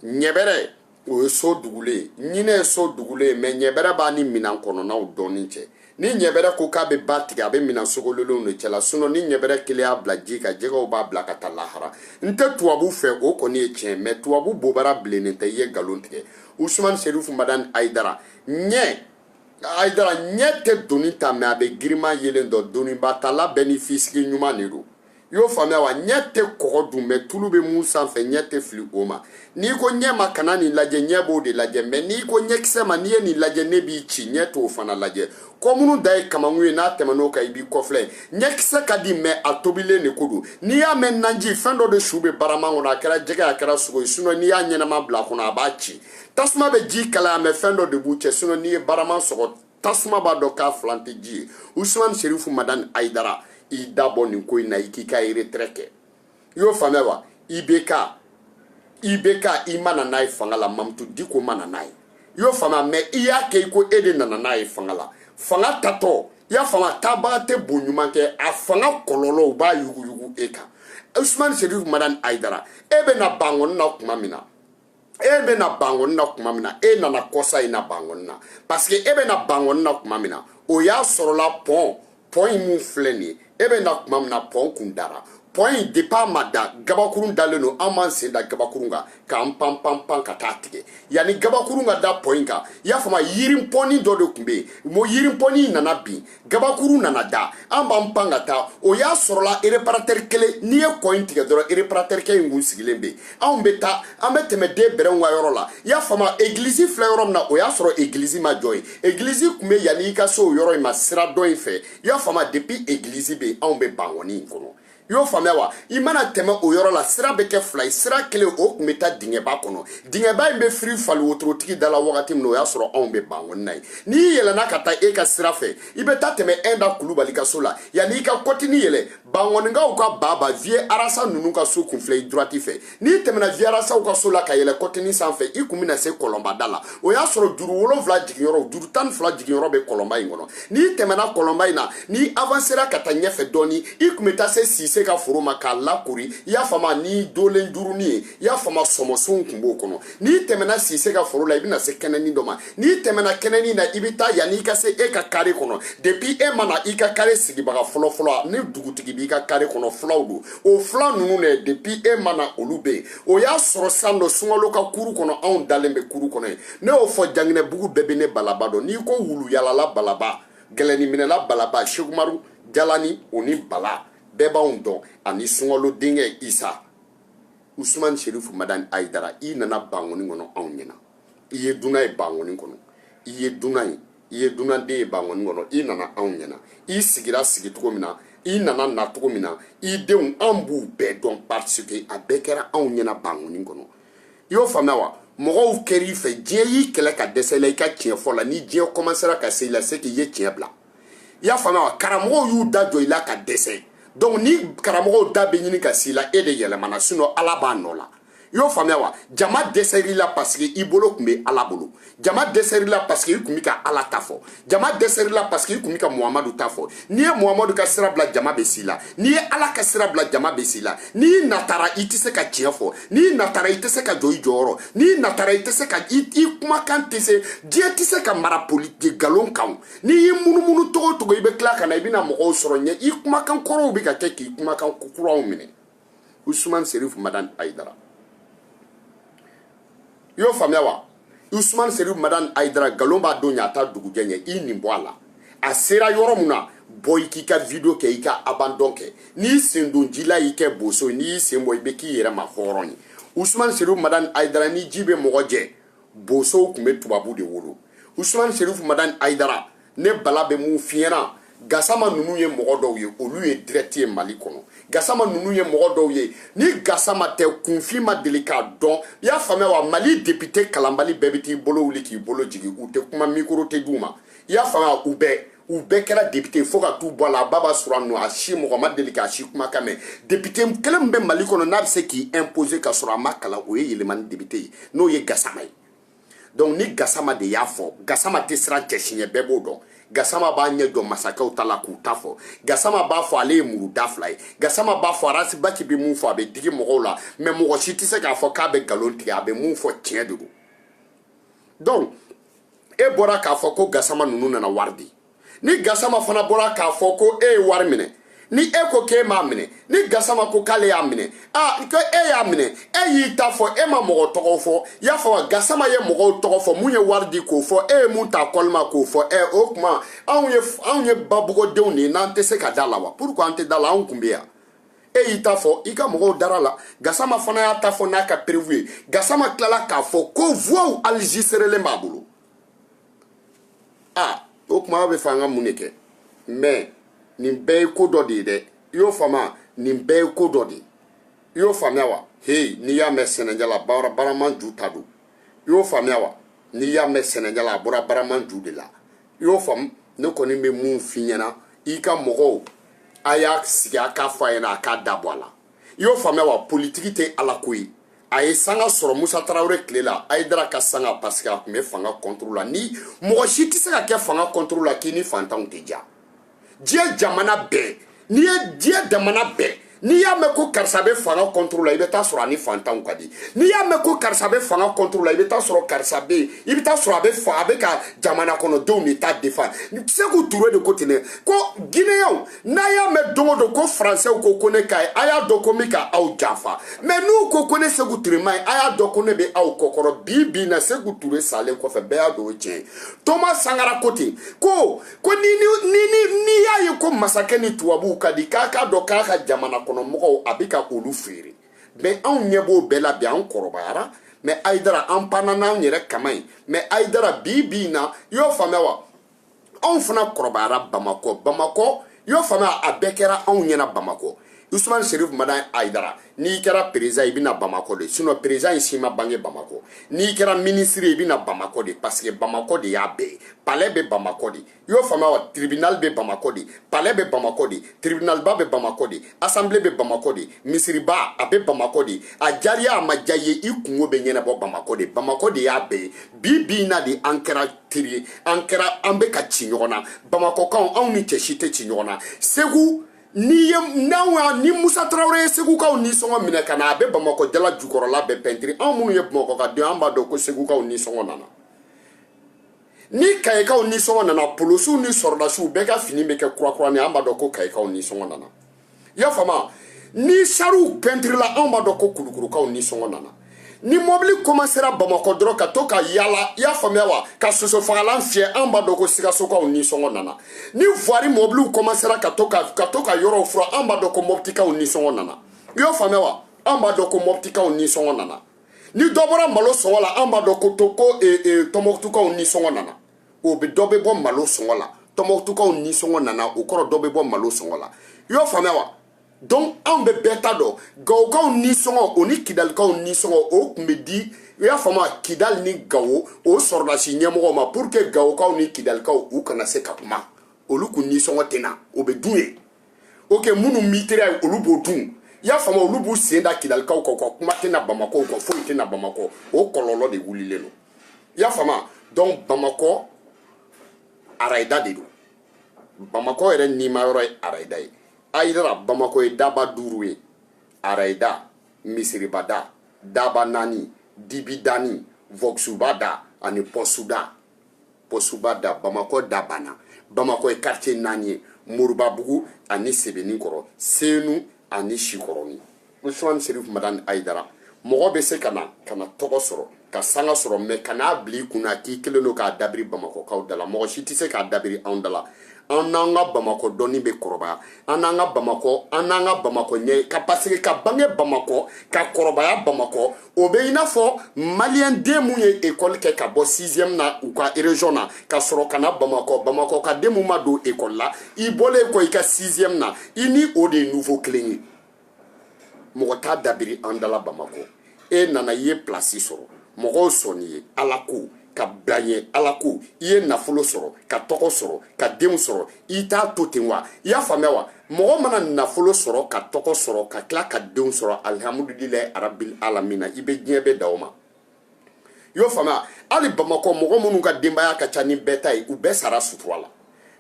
ɲɛbɛrɛ o ye so dugulen ye ɲinɛ ye so dugulen ye mɛ ɲɛbɛrɛ b'a ni minan kɔnɔnaw dɔnni cɛ ni ɲɛbɛrɛ ko k'a bɛ ba tigɛ a bɛ minan sogololenw de cɛla sinɔ ni ɲɛbɛrɛ kelen y'a bila ji kan jɛgɛw b'a bila ka taa lahara n tɛ tubabu fɛ o kɔni ye tiɲɛ mɛ tubabu bobara bilennen tɛ i ye nkalon tigɛ usumani serifu madani ayidara ɲɛ ayidara ɲɛ tɛ doni ta mɛ a bɛ girinman yelen dɔn doniba tala bɛɛ ni fisigi ɲuman de don i y'o faamuya wa ɲɛ tɛ kɔgɔ dun mɛ tulu bɛ mun sanfɛ ɲɛ tɛ fili o ma n'i ko ɲɛ ma kana nin lajɛ ɲɛ b'o de lajɛ mɛ n'i ko ɲɛkisɛ ma n'i ye nin lajɛ ne b'i ci ɲɛ t'o fana lajɛ kɔ munun dan ye kamankun ye n'a tɛmɛn'o kan i b'i kɔfilɛ ɲɛkisɛ ka di mɛ a tobilen de ko don n'i y'a mɛn nanji fɛn dɔ de su bɛ barama kɔnɔ a kɛra jɛgɛ a kɛra sogo ye sinɔ n'i y'a ɲɛnama bila a kɔnɔ a b'a ci tasuma bɛ ji kalaya mɛ fɛn dɔ de b'u cɛ sinɔ n'i ye barama sɔgɔ tasuma b'a dɔn k'a filan tɛ ji ye usumani serifu madani ayidara i da bɔ nin ko in na i k'i ka retraite kɛ i y'o faamuya wa IBK i ma na n'a ye fanga la mamutu diko ma na n'a ye i y'o faamuya mɛ i y'a kɛ i ko e de nana n'a ye fanga la fanga taatɔ i y'a faamuya taabaga tɛ bo ɲuman kɛ a fanga kɔlɔlɔ u b'a yuguyugu e kan usumani serifu madani ayidara e bɛ na bankɔni na tuma min na e bɛ na bangoni na tuma min na e nana kɔsa in na bangoni na parce que e bɛ na bangoni na tuma min na o y'a sɔrɔla pɔn pɔn in min filɛ nin ye e bɛ na tuma min na pɔn kun dara pɔn in depuis a ma da gabakurun dalen don an b'an sen da gabakurun kan k'an pan pan pan ka taa tigɛ yanni gabakurun ka da pɔn in kan i y'a faamu yirinpɔnni dɔ de tun bɛ yen o yirinpɔnni nana bin gabakuru nana da an b'an pan ka taa o y'a sɔrɔla reparatɛri kelen n'i ye kɔ in tigɛ dɔrɔn reparatɛrikɛ in kun sigilen bɛ yen anw bɛ taa an bɛ tɛmɛ denbɛlɛw ka yɔrɔ la i y'a faamu egilizi filɛ yɔrɔ min na o y'a sɔrɔ egilizi ma jɔ yen egilizi tun bɛ yanni i ka se o yɔrɔ in ma sira dɔ in fɛ i y'a faamu depuis egilizi bɛ yen anw bɛ bangɔni in kɔnɔ i y'o faamuya wa i mana tɛmɛ o yɔrɔ la sira bɛ kɛ fila ye sira kelen o tun bɛ taa dingɛba kɔnɔ dingɛba in bɛ firi faliwotorotigi da la wagati min na o y'a sɔrɔ anw bɛ bankɔni na yen n'i yɛlɛnna ka taa e ka sira fɛ i bɛ taa tɛmɛ ɛnda kulubali ka so la yanni i ka kɔtini yɛlɛ bankɔnikaw ka baba viye arasa ninnu ka so kun filɛ i droite fɛ n'i tɛmɛna viye arasaw ka so la ka yɛlɛ kɔtini sanfɛ i kun bɛna se kɔlɔnba da la o y'a sɔrɔ juru wolonfila jiginyɔrɔ juru tan ni fila jiginyɔrɔ bɛ kɔlɔnba in kɔnɔ n'i tɛmɛna kɔlɔnba in na n'i avansera ka taa ɲɛfɛ dɔɔni i kun bɛ taa se sise ka foro ma k'a lakori i y'a faamu ni dolen jurunin ye i y'a faamu sɔmɔsunw kun b'o kɔnɔ n'i tɛmɛna sise ka foro la i bɛna se kɛnɛni dɔ ma n'i tɛmɛna kɛnɛni na i bɛ taa yanni i ka se e ka kare kɔnɔ depuis e ma na i ka kare sigibaga fɔlɔfɔlɔ ni dugutigi b'i ka kare kɔnɔ fulaw don o fula ninnu dɛ depuis e ma na olu bɛ yen o y'a sɔrɔ san dɔ sunkalo ka kuru kɔnɔ anw dalen bɛ kuru kɔnɔ yen ne y'o fɔ janginɛbugu bɛɛ bɛ ne balaba dɔn n'i ko wuluyalala balaba gɛlɛniminɛla balaba sekumaru jalani o ni bala bɛɛ b'anw dɔn ani sunkalo denkɛ isa usumani serifu madani hayidara i nana bankoni kɔnɔ anw ɲɛna i ye dunan ye bankoni kɔnɔ i ye dunan ye i ye dunanden ye bankɔni kɔnɔ i nana anw ɲɛna i sigira sigi cogo min na i nana na cogo min na i denw an b'u bɛɛ dɔn parce que a bɛɛ kɛra anw ɲɛna bankɔni kɔnɔ i y'o faamuya wa mɔgɔw kɛra i fɛ diɲɛ y'i kɛlɛ ka dɛsɛ i la i ka tiɲɛ fɔ la ni diɲɛ kɔmansera ka se i la c'est que i ye tiɲɛ bila i y'a faamuya wa karamɔgɔw y'u da jɔ i la ka dɛsɛ donc ni karamɔgɔw da bɛ ɲini ka s'i la e de yɛlɛmana sinon ala b'a nɔ la i y'o faamuya wa jama dɛsɛr'i la parce que i bolo tun bɛ ala bolo jama dɛsɛr'i la parce que i tun bɛ ka ala ta fɔ jama dɛsɛr'i la parce que i tun bɛ ka muhamadu ta fɔ n'i ye muhamadu ka sira bila jama bɛ s'i la n'i ye ala ka sira bila jama bɛ s'i la n'i natara i tɛ se ka tiɲɛ fɔ n'i natara i tɛ se ka jɔ i jɔyɔrɔ n'i natara i tɛ se ka i i kumakan tɛ se diɲɛ tɛ se ka mara politiki nkalon kan n'i y'i munumunu cogo o cogo i bɛ tila ka na i bɛna mɔgɔw sɔrɔ ɲɛ i kumakan kɔrɔw bɛ ka kɛ k'i kumakan kuraw minɛ usumani serifu madan ayidara i y'o faamuya wa usumani serifu madan ayidara nkalon b'a don ɲa a t'a dugujɛ ɲɛ i nin bɔ a la a sera yɔrɔ mun na bɔ i k'i ka video kɛ i ka abandon kɛ n'i sen don ji la i kɛ boso n'i y'i sen bɔ i bɛ k'i yɛrɛ ma hɔrɔn ye usumani serifu madan ayidara ni ji bɛ mɔgɔ jɛ bosow tun bɛ tubabu de wolo usumani serifu madan ayidara ne bala bɛ mun f'i ɲɛna gasama ninnu ye mɔgɔ dɔw ye olu ye direct ye mali kɔnɔ gasama ninnu ye mɔgɔ dɔw ye ni gasama tɛ kunfin ma deli k'a dɔn i y'a faamuya wa mali depite kalanbali bɛɛ bɛ t'i bolo wuli k'i bolo jigin u tɛ kuma mikoro tɛ d'u ma i y'a faamuya u bɛɛ u bɛɛ kɛra depite fo ka t'u bɔ a la a ba b'a sɔrɔ a nɔ a si mɔgɔ ma deli k'a si kumakan mɛn depite kelen min bɛ mali kɔnɔ n'a bɛ se k'i imposer ka sɔrɔ a ma kalan o ye yelimani depite ye n'o ye gasama ye donc ni gasama de y'a fɔ gasama tɛ siran cɛ si ɲɛ bɛɛ b'o dɔn gasama b'a ɲɛ jɔ masakɛw ta la k'u ta fɔ gasama b'a fɔ ale ye muru da fila ye gasama b'a fɔ arasibati bɛ mun fɔ a bɛ digi mɔgɔw la mɛ mɔgɔ si tɛ se k'a fɔ k'a bɛ nkalon tigɛ a bɛ mun fɔ tiɲɛ de don donc e bɔra k'a fɔ ko gasama ninnu nana wari di ni gasama fana bɔra k'a fɔ ko e ye wari minɛ ni e ko k'e m'a minɛ ni gasama ko k'ale y'a minɛ a ko e y'a minɛ e y'i ta fɔ e ma mɔgɔ tɔgɔ fɔ y'a faamu gasama ye mɔgɔw tɔgɔ fɔ mun ye wari di k'o fɔ e ye mun ta kɔlima k'o fɔ ɛ o tuma anw ye anw ye babugɔdenw de ye n'an tɛ se ka da a la wa pourquoi an tɛ da a la anw tun bɛ yan e y'i ta fɔ i ka mɔgɔw dara a la gasama fana y'a ta fɔ n'a ka perewu ye gasama tilala k'a fɔ ko voix enregistrelen b'a bolo a o kuma aw bɛ fɛ an ka mun de kɛ mɛ nin bɛɛ ye ko dɔ de ye dɛ i y'o faamuya nin bɛɛ ye ko dɔ de ye i y'o faamuya wa heyi n'i y'a mɛn sɛnɛ jala bara barama ju ta don i y'o faamuya wa n'i y'a mɛn sɛnɛ jala a bɔra barama ju de la i y'o faamu ne kɔni bɛ mun f'i ɲɛna i ka mɔgɔw a y'a sigi a k'a fɔ a ɲɛna a k'a dabɔ a la i y'o faamuya wa politiki tɛ ala ko ye a ye sanga sɔrɔ musa tarawele tile la ayidara ka sanga parce que a tun bɛ fanga kɔntoro la ni mɔgɔ si tɛ se ka kɛ fanga kɔntoro la k'i ni fantanw tɛ ja diɲɛ jamana bɛɛ n'i ye diɲɛ jamana bɛɛ n'i y'a mɛn ko karisa bɛ fanga kɔntoro la i bɛ taa sɔrɔ a ni fantanw ka di n'i y'a mɛn ko karisa bɛ fanga kɔntoro la i bɛ taa sɔrɔ karisa bɛ yen i bɛ taa sɔrɔ a bɛ fa a bɛ ka jamana kɔnɔdenw de ta defa seku ture de ko ten dɛ ko gineyɛnw n'a y'a mɛn don o don ko faransɛw ko ko ne ka ɲi a y'a dɔn ko n bɛ ka aw janfa mɛ n'u ko ko ne seku ture man ɲi a y'a dɔn ko ne bɛ aw kɔkɔrɔ bi bi na seku ture salen kɔfɛ bɛɛ y'a dɔn o tiɲɛ ye toma sankara ko ten ko ko ni ni ni ni n'i y'a ye ko masakɛ ni tubabuw ka di k'a k'a dɔn k'a ka jamana kɔnɔ mɔgɔw a bɛ ka olu feere mɛ anw ɲɛ b'o bɛɛ la bi an kɔrɔbayara mɛ ayidara an panna n'an yɛrɛ kaman ye mɛ ayidara bi bi in na i y'o faamuya wa anw fana kɔrɔbayara bamakɔ bamakɔ y'o faamuya a bɛɛ kɛra anw ɲɛna bamakɔ usman serif madani ayidara n'i kɛra perezidan i bɛ na bamakɔ de sinon perezidan in si ma bange bamakɔ n'i kɛra minisiri i bɛ na bamakɔ de paseke bamakɔ de y'a bɛɛ ye palɛ bɛ bamakɔ de y'o faamuya wa tribinali bɛ bamakɔ de palɛ bɛ bamakɔ de tribinaliba bɛ bamakɔ de asanbile bɛ bamakɔ de misiriba a bɛ bamakɔ de a diyara i ye a ma diya i ye i kunko bɛ ɲɛnabɔ bamakɔ de bamakɔ de y'a bɛɛ ye bi bi in na de an kɛra teri ye an kɛra an bɛ ka ci ɲɔgɔn na bamakɔkaw anw ni cɛ si tɛ ci ɲɔgɔn na segu n'i ye n'anw y'a ni musa tarawele ye segukaw nisɔngɔ minɛ ka na a bɛ bamakɔ jala jukɔrɔla bɛɛ pɛntiri anw minnu ye bamakɔ ka den an b'a dɔn ko segukaw nisɔngɔ nana ni kayikaw nisɔngɔ nana polosiw ni sɔrɔdasiw bɛɛ ka fini bɛ kɛ kurakura ni an b'a dɔn ko kayikaw nisɔngɔ nana i y'a faamu ni sariw pɛntirila anw b'a dɔn ko kulukurukaw nisɔngɔ nana ni mɔbili komansera bamakɔ dɔrɔn ka to ka yala i y'a faamuya wa ka sosofagalan fiyɛ an b'a dɔn ko sikasokaw nisɔngɔ nana ni vuwari mɔbiliw komansera ka to ka ka to ka yɔrɔw furan an b'a dɔn ko mɔbitikaw nisɔngɔ nana i y'o faamuya wa an b'a dɔn ko mɔbitikaw nisɔngɔ nana ni dɔ bɔra malo sɔngɔ la an b'a dɔn ko to ko e, e, tɔnbɔkutukaw nisɔngɔ nana o bɛ dɔ bɛ bɔ malo sɔngɔ la tɔnbɔkutukaw nisɔngɔ nana o kɔrɔ dɔ bɛ bɔ malo sɔngɔ la i y'o faamuya wa donc anw bɛ bɛɛ ta dɔn gawokaw nisɔngɔ o ni kidalikaw nisɔngɔ o tun bɛ di i y'a faamu kidali ni gawo o sɔrɔdasi ɲɛmɔgɔw ma pour que gawokaw ni kidalikaw u kana se ka kuma olu kun nisɔngɔ tɛ na o bɛ dun yen ok minnu mitera yen olu b'o dun i y'a faamu olu b'u sen da kidalikaw kan u ka kuma tɛ na bamakɔ u ka foyi tɛ na bamakɔ o kɔlɔlɔ de wulilen don i y'a faamu donc bamakɔ arayida de don bamakɔ yɛrɛ nimayɔrɔ ye arayida ye ayidara bamakɔ ye daba duuru ye arayida misiribada dabanani dibidani vɔksubada ani pɔsuda pɔsubada bamakɔ da banna bamakɔ ye quartier naani ye moribabugu ani sebeninkɔrɔ senu ani sikɔrɔni usman serif madani ayidara mɔgɔ bɛ se ka na ka na tɔgɔ sɔrɔ ka sanga sɔrɔ mɛ kan'a bila i kun na k'i kelen don k'a dabiri bamakɔkaw dala mɔgɔ si tɛ se k'a dabiri anw dala an n'an ka bamakɔ dɔnni bɛ kɔrɔbaya an n'an ka bamakɔ an n'an ka bamakɔ ɲɛ paseke ka bange bamakɔ ka kɔrɔbaya bamakɔ o bɛ i n'a fɔ maliyɛn den mun ye ekɔli kɛ ka bɔ sixième na u ka région na ka sɔrɔ ka na bamakɔ bamakɔ ka den mun ma don ekɔli la i bɔlen kɔ i ka sixième na i ni o de ye niveau kelen ye mɔgɔ t'a dabiri an dala bamakɔ e nana i ye pilasi sɔrɔ mɔgɔw sɔnn'i ye ala ko ka bila ɲɛ ala ko i ye nafolo sɔrɔ ka tɔgɔ sɔrɔ ka denw sɔrɔ i t'a to ten wa i y'a faamuya wa mɔgɔ mana nafolo sɔrɔ ka tɔgɔ sɔrɔ ka tila ka denw sɔrɔ alihamudulilayi arabil alamina i bɛ diɲɛ bɛɛ da o ma i y'o faamuya hali bamakɔ mɔgɔ minnu ka denbaya ka ca ni bɛɛ ta ye u bɛɛ sara sutura la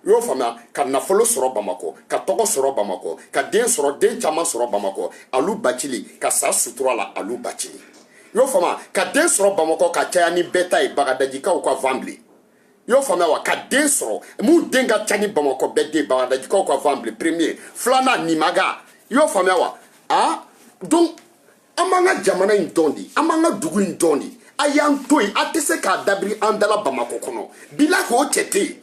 i y'o faamuya ka nafolo sɔrɔ bamakɔ ka tɔgɔ sɔrɔ bamakɔ ka den sɔrɔ den caman sɔrɔ bamakɔ alu bacili ka sa sutura la alu bacili i y'o faamuya ka den sɔrɔ bamakɔ ka caya ni bɛɛ ta ye bagadajikaw ka van bilen i y'o faamuya wa ka den sɔrɔ mun den ka ca ni bamakɔ bɛɛ den bagadajikaw ka van bilen premier filanan nimaga i y'o faamuya wa a donc an b'an ka jamana in dɔn de an b'an ka dugu in dɔn de a y'an to yen a tɛ se k'a dabiri an dala bamakɔ kɔnɔ bilayi o cɛ tɛ yen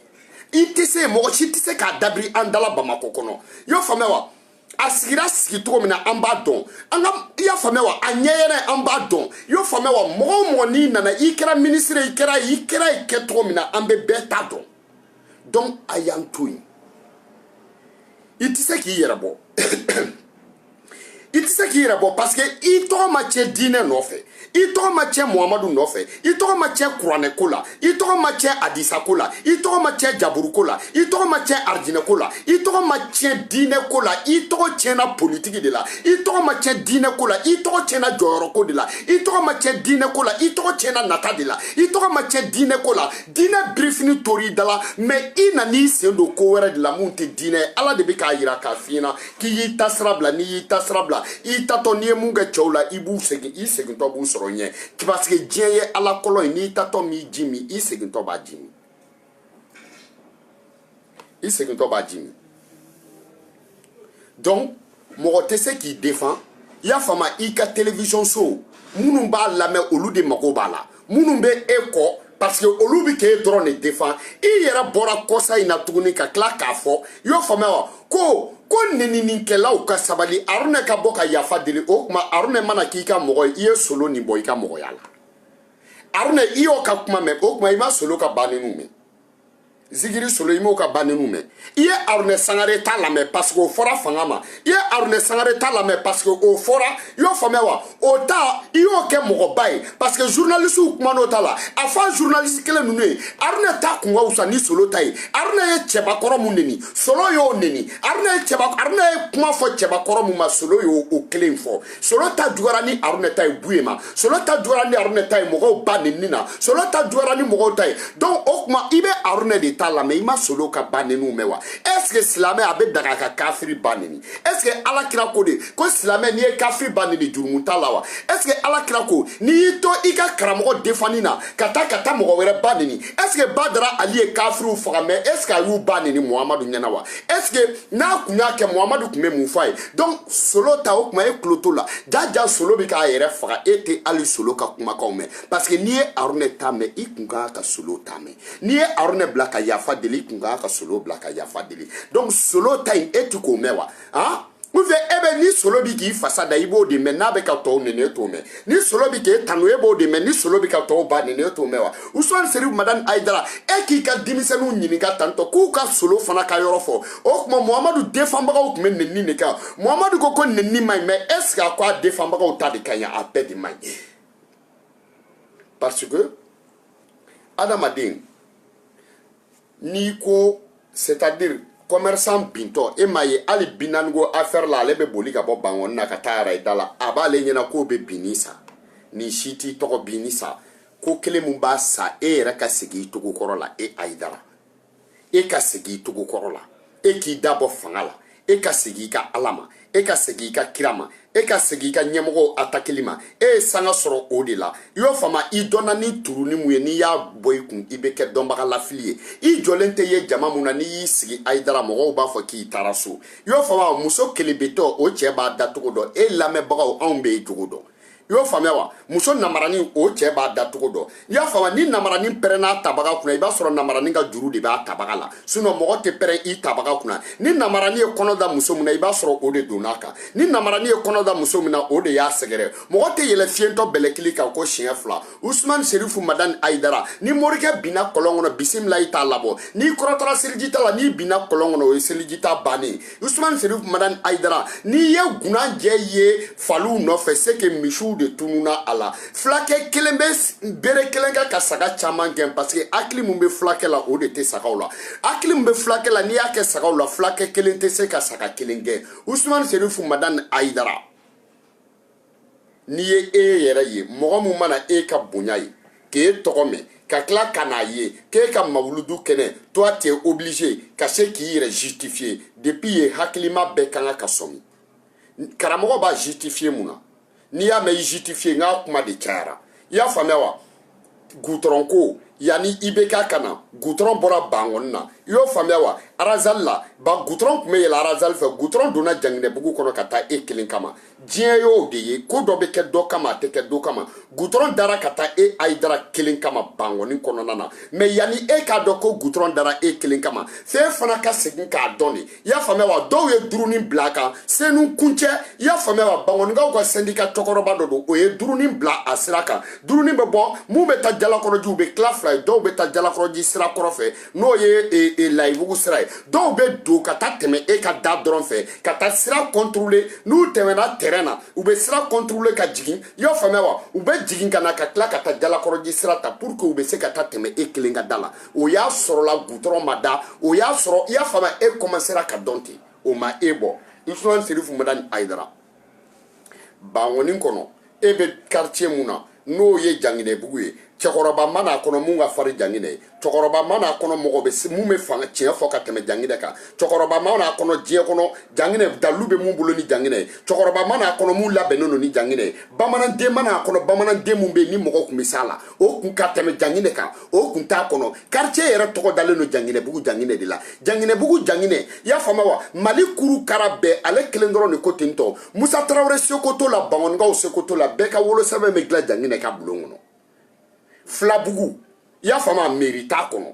i tɛ se mɔgɔ si tɛ se k'a dabiri an dala bamakɔ kɔnɔ i y'o faamuya wa a sigira sigi cogo min na an b'a dɔn an ka i y'a faamuya wa a ɲɛyɛrɛ an b'a dɔn i y'o faamuya wa mɔgɔ o mɔgɔ n'i nana i kɛra minisiri i kɛra i kɛra i kɛ cogo min na an bɛ bɛɛ ta dɔn donc a y'an to yen i tɛ se k'i yɛrɛ bɔ i tɛ se k'i yɛrɛ bɔ parce que i tɔgɔ ma tiɲɛ diinɛ nɔfɛ i tɔgɔ ma tiɲɛ muhamadu nɔfɛ i tɔgɔ ma tiɲɛ kuranɛ ko la i tɔgɔ ma tiɲɛ adisa ko la i tɔgɔ ma tiɲɛ jaburu ko la i tɔgɔ ma tiɲɛ arijinɛ ko la i tɔgɔ ma tiɲɛ diinɛ ko la i tɔgɔ tiɲɛna politiki de la i tɔgɔ ma tiɲɛ diinɛ ko la i tɔgɔ tiɲɛna jɔyɔrɔ ko de la i tɔgɔ ma tiɲɛ diinɛ ko la i tɔgɔ tiɲɛna nata de la i tɔgɔ ma tiɲɛ diinɛ ko la diinɛ birifini tor'i da la mais i nan'i sen don ko wɛrɛ de la mun tɛ diinɛ ye ala de bɛ k'a yira k'a f'i ɲɛna k'i y'i ta sira bila n'i y'i ta sira bila i taatɔ n'i ye mun kɛ cɛw la i b'u segin i segintɔ b'u sɔrɔ ɲɛ parce que diɲɛ ye ala kɔlɔn ye n'i taatɔ m'i ji min i segintɔ b'a ji min i segintɔ b'a ji min donc mɔgɔ tɛ se k'i defan i y'a faamu i ka télévision so minnu b'a lamɛn olu de mago b'a la minnu bɛ e kɔ parce que olu bɛ k'e dɔrɔn de defan i yɛrɛ bɔra kɔsa in na tuguni ka tila k'a fɔ i y'o faamuya wa ko ko neninikɛlaw ka sabali aruna ka bɔ ka yafa deli o kuma aruna mana k'i ka mɔgɔ ye i ye solo nin bɔ i ka mɔgɔya la aruna i y'o ka kuma mɛn o kuma i ma solo ka ba nenniw mɛn zigiri solo i m'o ka ba nenniw mɛn i ye aruna sangare ta lamɛn parce que o fɔra fanga ma i ye aruna sangare ta lamɛn parce que o fɔra i y'o faamuya wa o ta i y'o kɛ mɔgɔba ye parce que journalistew kuman'o ta la a fɔ journaliste kelen ninnu ye aruna ta kun ka wusa ni solo ta ye aruna ye cɛbakɔrɔ mun neni solo y'o neni aruna ye cɛba aruna ye kuma fɔ cɛbakɔrɔ mun ma solo y'o kelen fɔ solo ta juguyara ni aruna ta ye buye ma solo ta juguyara ni aruna ta ye mɔgɔw ba nenni na solo ta juguyara ni mɔgɔw ta ye donc o kuma i bɛ aruna de ta lamɛn i ma solo ka ba nenniw mɛn wa est ce que silamɛ a bɛ daga ka kafiri ba nenni est ce que ala kira ko de ko silamɛ n'i ye kafiri ba nenni jurumu t'a la wa est ce que ala kira ko n'i y'i to i ka karamɔgɔ defanni na ka taa ka taa mɔgɔ wɛrɛ ba nenni est ce que badara ali ye kafiriw faga mais est ce que a y'u ba nenni muhamadu ɲɛna wa est ce que n'a kun y'a kɛ muhamadu kun bɛ mun fɔ a ye donc solo ta o kuma e tulo t'o la jaja solo bɛ k'a yɛrɛ faga e tɛ hali solo ka kumakanw mɛn parce que n'i ye arunɛ ta mɛn i kun kan ka solo ta mɛn n'i ye arunɛ bila ka yafa deli i kun kan ka solo bila ka yafa deli donc solo ta in e ti k'o mɛn wa han ou bien e bɛ ni solo bi k'i fasa da i b'o de mɛn n'a bɛ ka tɔw nɛni e t'o mɛn ni solo bi k'e tanu e b'o de mɛn ni solo bi ka tɔw ba nɛni e t'o mɛn wa usman serifu madani ayidara e k'i ka denmisɛnninw ɲininka tantɔ k'u ka solo fana ka yɔrɔ fɔ o tuma muhamadu defanbagaw tun bɛ nenni de kan muhamadu ko ko nenni man ɲi mais est ce que a ko a defanbagaw ta de ka ɲi a bɛɛ de man ɲi parce que adamaden n'i ko c'est à dire commerçant bintɔ e m'a ye hali bi naani ko affaire la ale bɛ boli ka bɔ bangɔni na ka taa arayida la a b'ale ɲɛna k'o bɛ binni sa nin si t'i tɔgɔ binni sa ko kelen min b'a sa e yɛrɛ ka segin i cogo kɔrɔ la e ayidara e ka segin i cogo kɔrɔ la e k'i da bɔ fanga la e ka segin i ka ala ma e ka segin i ka kira ma e ka segin i ka ɲɛmɔgɔw atakili ma e ye sanga sɔrɔ o de la i y'o faamu i dɔnna ni turunin mun ye n'i y'a bɔ i kun i bɛ kɛ dɔnbaga lafili ye i jɔlen tɛ ye jama mun na n'i y'i sigi ayidara mɔgɔw b'a fɔ k'i taara so i y'o faamu muso kelebetɔ o cɛ b'a dacogo dɔn e lamɛnbagaw anw bɛ i cogo dɔn i y'o faamuya wa muso namaranin o cɛ b'a da cogo dɔn i y'a faamuya ni namaranin pɛrɛnn'a tabaga kunna i b'a sɔrɔ namaranin ka juru de b'a tabaga la sinon mɔgɔ tɛ pɛrɛn i tabaga kunna ni namaranin ye kɔnɔ da muso min na i b'a sɔrɔ o de donn'a kan ni namaranin ye kɔnɔ da muso min na o de y'a sɛgɛrɛ mɔgɔ tɛ yɛlɛ fiyentɔ bɛlɛkili kan ko siɲɛ fila usman serifu madani ayidara ni morikɛ binna kɔlɔn kɔnɔ bisimila i t'a labɔ n'i kɔrɔtara seliji ta la n'i binna kɔlɔn kɔnɔ o ye seliji ta bannen usman serif madan ayidara n'i ye gunanjɛ ye faliw nɔfɛ c'est que misiw de tununa a la fulakɛ kelen bɛ bere kelen kɛ ka saga caman gɛn parce que hakili min bɛ fulakɛ la o de tɛ sagaw la hakili min bɛ fulakɛ la n'i y'a kɛ sagaw la fulakɛ kelen tɛ se ka saga kelen gɛn usman serif madan ayidara n'i ye e yɛrɛ ye mɔgɔ min mana e ka bonya ye k'e tɔgɔ mɛn ka tila ka n'a ye k'e ka mawuludu kɛnɛ toi t'es obligé ka se k'i yɛrɛ justifier depuis yen hakilima bɛɛ ka kan ka sɔmi karamɔgɔ b'a justifier mun na n'i y'a mɛn i justifier n k'a kuma de cayara i y'a faamuya wa gutɔrɔn ko yanni i bɛ k'a ka na gutɔrɔn bɔra bangɔni na i y'o faamuya wa arazali la ba gutɔrɔn tun bɛ yɛlɛ arazali fɛ gutɔrɔn donna janginɛbugu kɔnɔ ka taa e kelen kama diɲɛ y'o de ye ko dɔ bɛ kɛ dɔ kama a tɛ kɛ do kama gutɔrɔn dara ka taa e ayidara kelen kama bangɔni kɔnɔna na mais yanni e k'a dɔn ko gutɔrɔn dara e kelen kama fɛn fana ka segin k'a dɔn de i y'a faamuya wa dɔw ye durunin bila a kan senu kuncɛ i y'a faamuya wa bangɔnikaw ka sɛndika cɔkɔrɔba dɔ don o ye durunin bila a sira kan durunin bɛ bɔ minnu bɛ taa jalakɔrɔji u bɛ tila fila ye dɔw bɛ taa jalakɔrɔji sira kɔrɔ fɛ n'o ye e, e, layibugu sira ye dɔw bɛ don ka taa tɛmɛ e ka da dɔrɔn fɛ ka taa sira contourner n'u tɛmɛna tɛrɛn na u bɛ sira contourner ka jigin i y'a faamuya wa u bɛ jigin ka na ka tila ka taa jalakɔrɔji sira ta pour que u bɛ se ka taa tɛmɛ e kelen ka da la o y'a sɔrɔla gutɔrɔn ma da o y'a sɔrɔ i y'a faamuya e kɔmansera ka dɔn ten o ma e bɔ usman serifu madani ayidara bangɔni kɔnɔ e bɛ quartier mun na n'o ye janginɛbugu ye cɛkɔrɔba ma n'a kɔnɔ mun ka fari janginɛ ye cɛkɔrɔba ma n'a kɔnɔ mɔgɔ bɛ mun bɛ fanga tiɲɛ fɔ ka tɛmɛ janginɛ kan cɛkɔrɔba ma n'a kɔnɔ diɲɛ kɔnɔ janginɛ dalu bɛ mun bolo ni janginɛ ye cɛkɔrɔba ma n'a kɔnɔ mun labɛnnen don ni janginɛ ye bamananden ma n'a kɔnɔ bamananden mun bɛ yen ni mɔgɔ tun bɛ s'a la o kun ka tɛmɛ janginɛ kan o kun t'a kɔnɔ karitiye yɛrɛ tɔgɔ dalen don janginɛbugu janginɛ de la janginɛbugu janginɛ i y'a faamuya wa mali kuru kara bɛɛ ale kelen dɔrɔn de ko ten tɔ musa tarawele seko t'o la bangɔnikaw seko t'o la bɛɛ ka wolosɛbɛn bɛ dilan janginɛ ka bulon kɔnɔ filabugu i y'a faamuya meri t'a kɔnɔ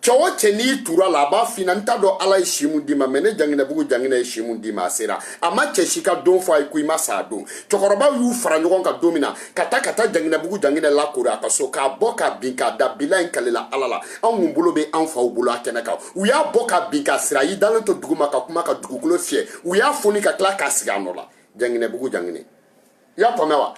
cɛ o cɛ n'i tura la a b'a f'i na n t'a dɔn ala ye si mun d'i ma mɛ ne janginɛbugu janginɛ ye si mun d'i ma a sera a ma cɛ si ka don fɔ a ye ko i ma sa a don cɛkɔrɔbaw y'u fara ɲɔgɔn kan don min na ka taa ka taa janginɛbugu janginɛ lakori a ka so k'a bɔ k'a bin k'a da bila in kalela ala la anw mun bolo bɛ an faw bolo a kɛnɛ kan u y'a bɔ k'a bin k'a siri a y'i dalen to duguma ka kuma ka dugukolo fiyɛ u y'a foni ka tila k'a sigi a nɔ la janginɛbugu janginɛ i y'a faamuya wa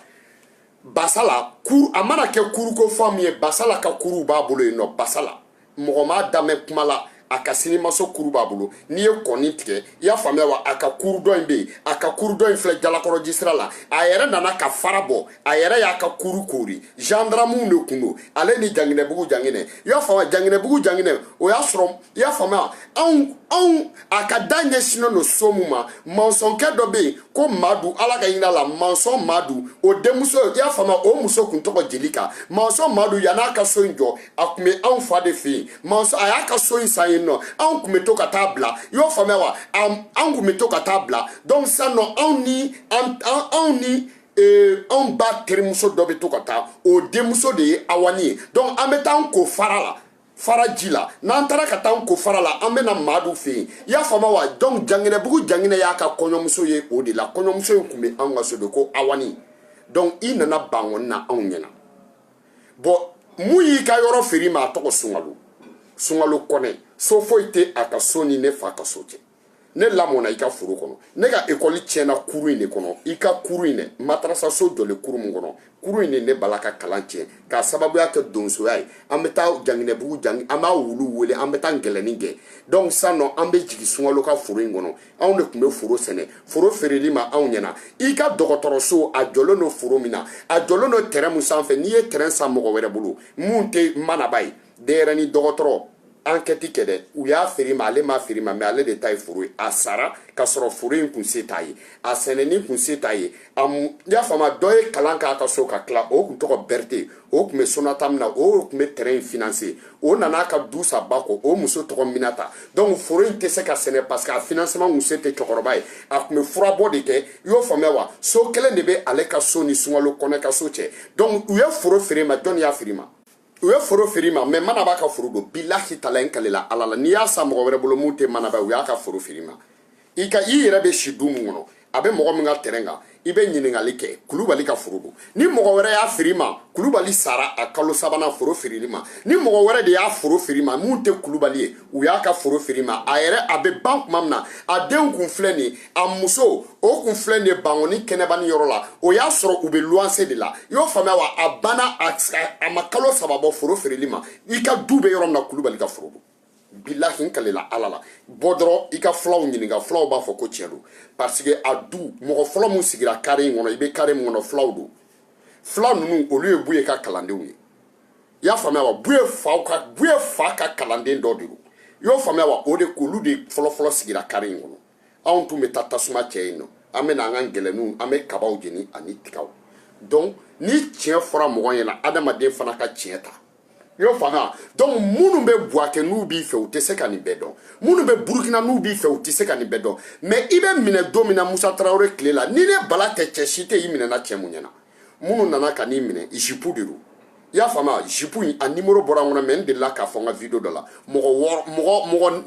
basala kuru a mana kɛ kuruko faamu ye basala ka kuruw b'a bolo yen nɔ basala mɔgɔ m'a damɛ kuma la a ka sinimaso kuru b'a bolo n'i ye kɔni tigɛ i y'a faamuya wa a ka kuru dɔ in bɛ yen a ka kuru dɔ in filɛ jalakɔrɔji sira la a yɛrɛ nana ka fara bɔ a yɛrɛ y'a ka kuru koori gendarmew de kun don ale ni janginɛbugu janginɛ i y'a faamuya janginɛbugu janginɛ o y'a sɔrɔ i y'a faamuya anw anw a ka da ɲɛsinnen don so min ma mansɔnkɛ dɔ bɛ yen ko madu ala ka hin'a la mansɔn madu o denmuso i y'a faamuya o muso kun tɔgɔ jelika mansɔn madu yan'a ka so in jɔ a kun bɛ anw fa de fɛ yen mansɔn a y'a ka so in san yen nɔ anw kun bɛ to ka taa bila i y'o faamuya wa anw kun bɛ to ka taa bila donc sisan nɔ anw ni anw ni ee anw ba terimuso dɔ bɛ to ka taa o denmuso de ye awani ye donc an bɛ taa an ko fara la fara ji la n'an taara ka taa an ko fara la an bɛna madu fɛ yen i y'a faamuya wa donc janginɛbugu janginɛ y'a ka kɔɲɔmuso ye o de la kɔɲɔmuso in kun bɛ anw ka so de ko awani donc i nana bangɔni na anw ɲɛna bɔn mun y'i ka yɔrɔ feere i ma a tɔgɔ sunkalo sunkalo kɔnɛ so foyi tɛ a ka so ni ne fa ka so cɛ ne lamɔna i ka foro kɔnɔ ne ka ekɔli tiɲɛna kuru in de kɔnɔ i ka kuru in dɛ matarasaso jɔlen kuru min kɔnɔ kuru in de ne bala ka kalan tiɲɛ k'a sababuya kɛ donsoya ye an bɛ taa janginɛbugu jangi an b'a wulu wele an bɛ taa ngɛlɛni gɛn donc san nɔ an bɛ jigin sunkalo ka foro in kɔnɔ anw de tun bɛ foro sɛnɛ foro feerel'i ma anw ɲɛna i ka dɔgɔtɔrɔso a jɔlen don foro min na a jɔlen don tɛrɛn min sanfɛ n'i ye tɛrɛn san mɔgɔ wɛrɛ bolo min tɛ manaba ye denyɛrɛni dɔgɔtɔrɔ ankɛti kɛ dɛ u y'a feer'i ma ale m'a feer'i ma mɛ ale de ta ye foro ye a sara ka sɔrɔ foro in kun se t'a ye a sɛnɛni kun se t'a ye i y'a faamu dɔ ye kalan k'a ka so ka tila o kun tɔgɔ berete o kun bɛ sonatamu na o kun bɛ tɛrɛn in finanse o nana ka du san ba kɔ o muso tɔgɔ minata donc foro in tɛ se ka sɛnɛ parce que a finansema kun se tɛ cɛkɔrɔba ye a kun bɛ furabɔ de kɛ i y'o faamuya wa so kelen de bɛ ale ka so ni sunkalo kɔnɛ ka so cɛ donc u ye foro feer'i ma jɔnni y'a feer'i ma u ye foro feer'i ma mɛ manaba ka foro don bilahi tala n kalela ala la n'i y'a san mɔgɔ wɛrɛ bolo min tɛ manaba u y'a ka foro feer'i ma i ka i yɛrɛ bɛ si du min kɔnɔ a bɛ mɔgɔ min ka tɛrɛn kan i bɛ ɲininkali kɛ kulubali ka foro don ni mɔgɔ wɛrɛ y'a feer'i ma kulubali sara a kalo sabanan foro feerel'i ma ni mɔgɔ wɛrɛ de y'a foro feer'i ma min tɛ kulubali ye u y'a ka foro feer'i ma a yɛrɛ a bɛ ban tuma min na a denw kun filɛ nin ye a muso o kun filɛ nin ye bangoni kɛnɛbani yɔrɔ la o y'a sɔrɔ u bɛ luwanse de la i y'o faamuya wa a banna a ma kalo saba bɔ foro feerel'i ma i ka du bɛ yɔrɔ min na kulubali ka foro don bilahi n kalela ala la bɔ dɔrɔn i ka fulaw ɲininka fulaw b'a fɔ ko tiɲɛ don parce que a du mɔgɔ fɔlɔ min sigira kare in kɔnɔ i bɛ kare min kɔnɔ fulaw don fula ninnu olu ye buye ka kalandenw ye i y'a faamuya wa buye faw ka buye fa ka kalanden dɔ de don i y'o faamuya wa o de k'olu de fɔlɔfɔlɔ sigira kare in kɔnɔ anw tun bɛ taa tasuma cɛ yen nɔ an bɛ na an ka ngɛlɛninw an bɛ kabaw jeni ani tigaw donc ni tiɲɛ fɔra mɔgɔ ɲɛna adamaden fana ka tiɲɛ ta i y'o faamuya donc minnu bɛ buwakɛ n'u b'i fɛ u tɛ se ka nin bɛɛ dɔn minnu bɛ burukina n'u b'i fɛ u tɛ se ka nin bɛɛ dɔn mais i bɛ minɛ don min na musa tarawele tile la ni ne bala tɛ cɛ si tɛ i minɛna cɛ min ɲɛna minnu nana ka n'i minɛ jipu de don i y'a faamuya jipu in a nimoro bɔra n kɔnɔ mɛ n delila k'a fɔ n ka video dɔ la mɔgɔ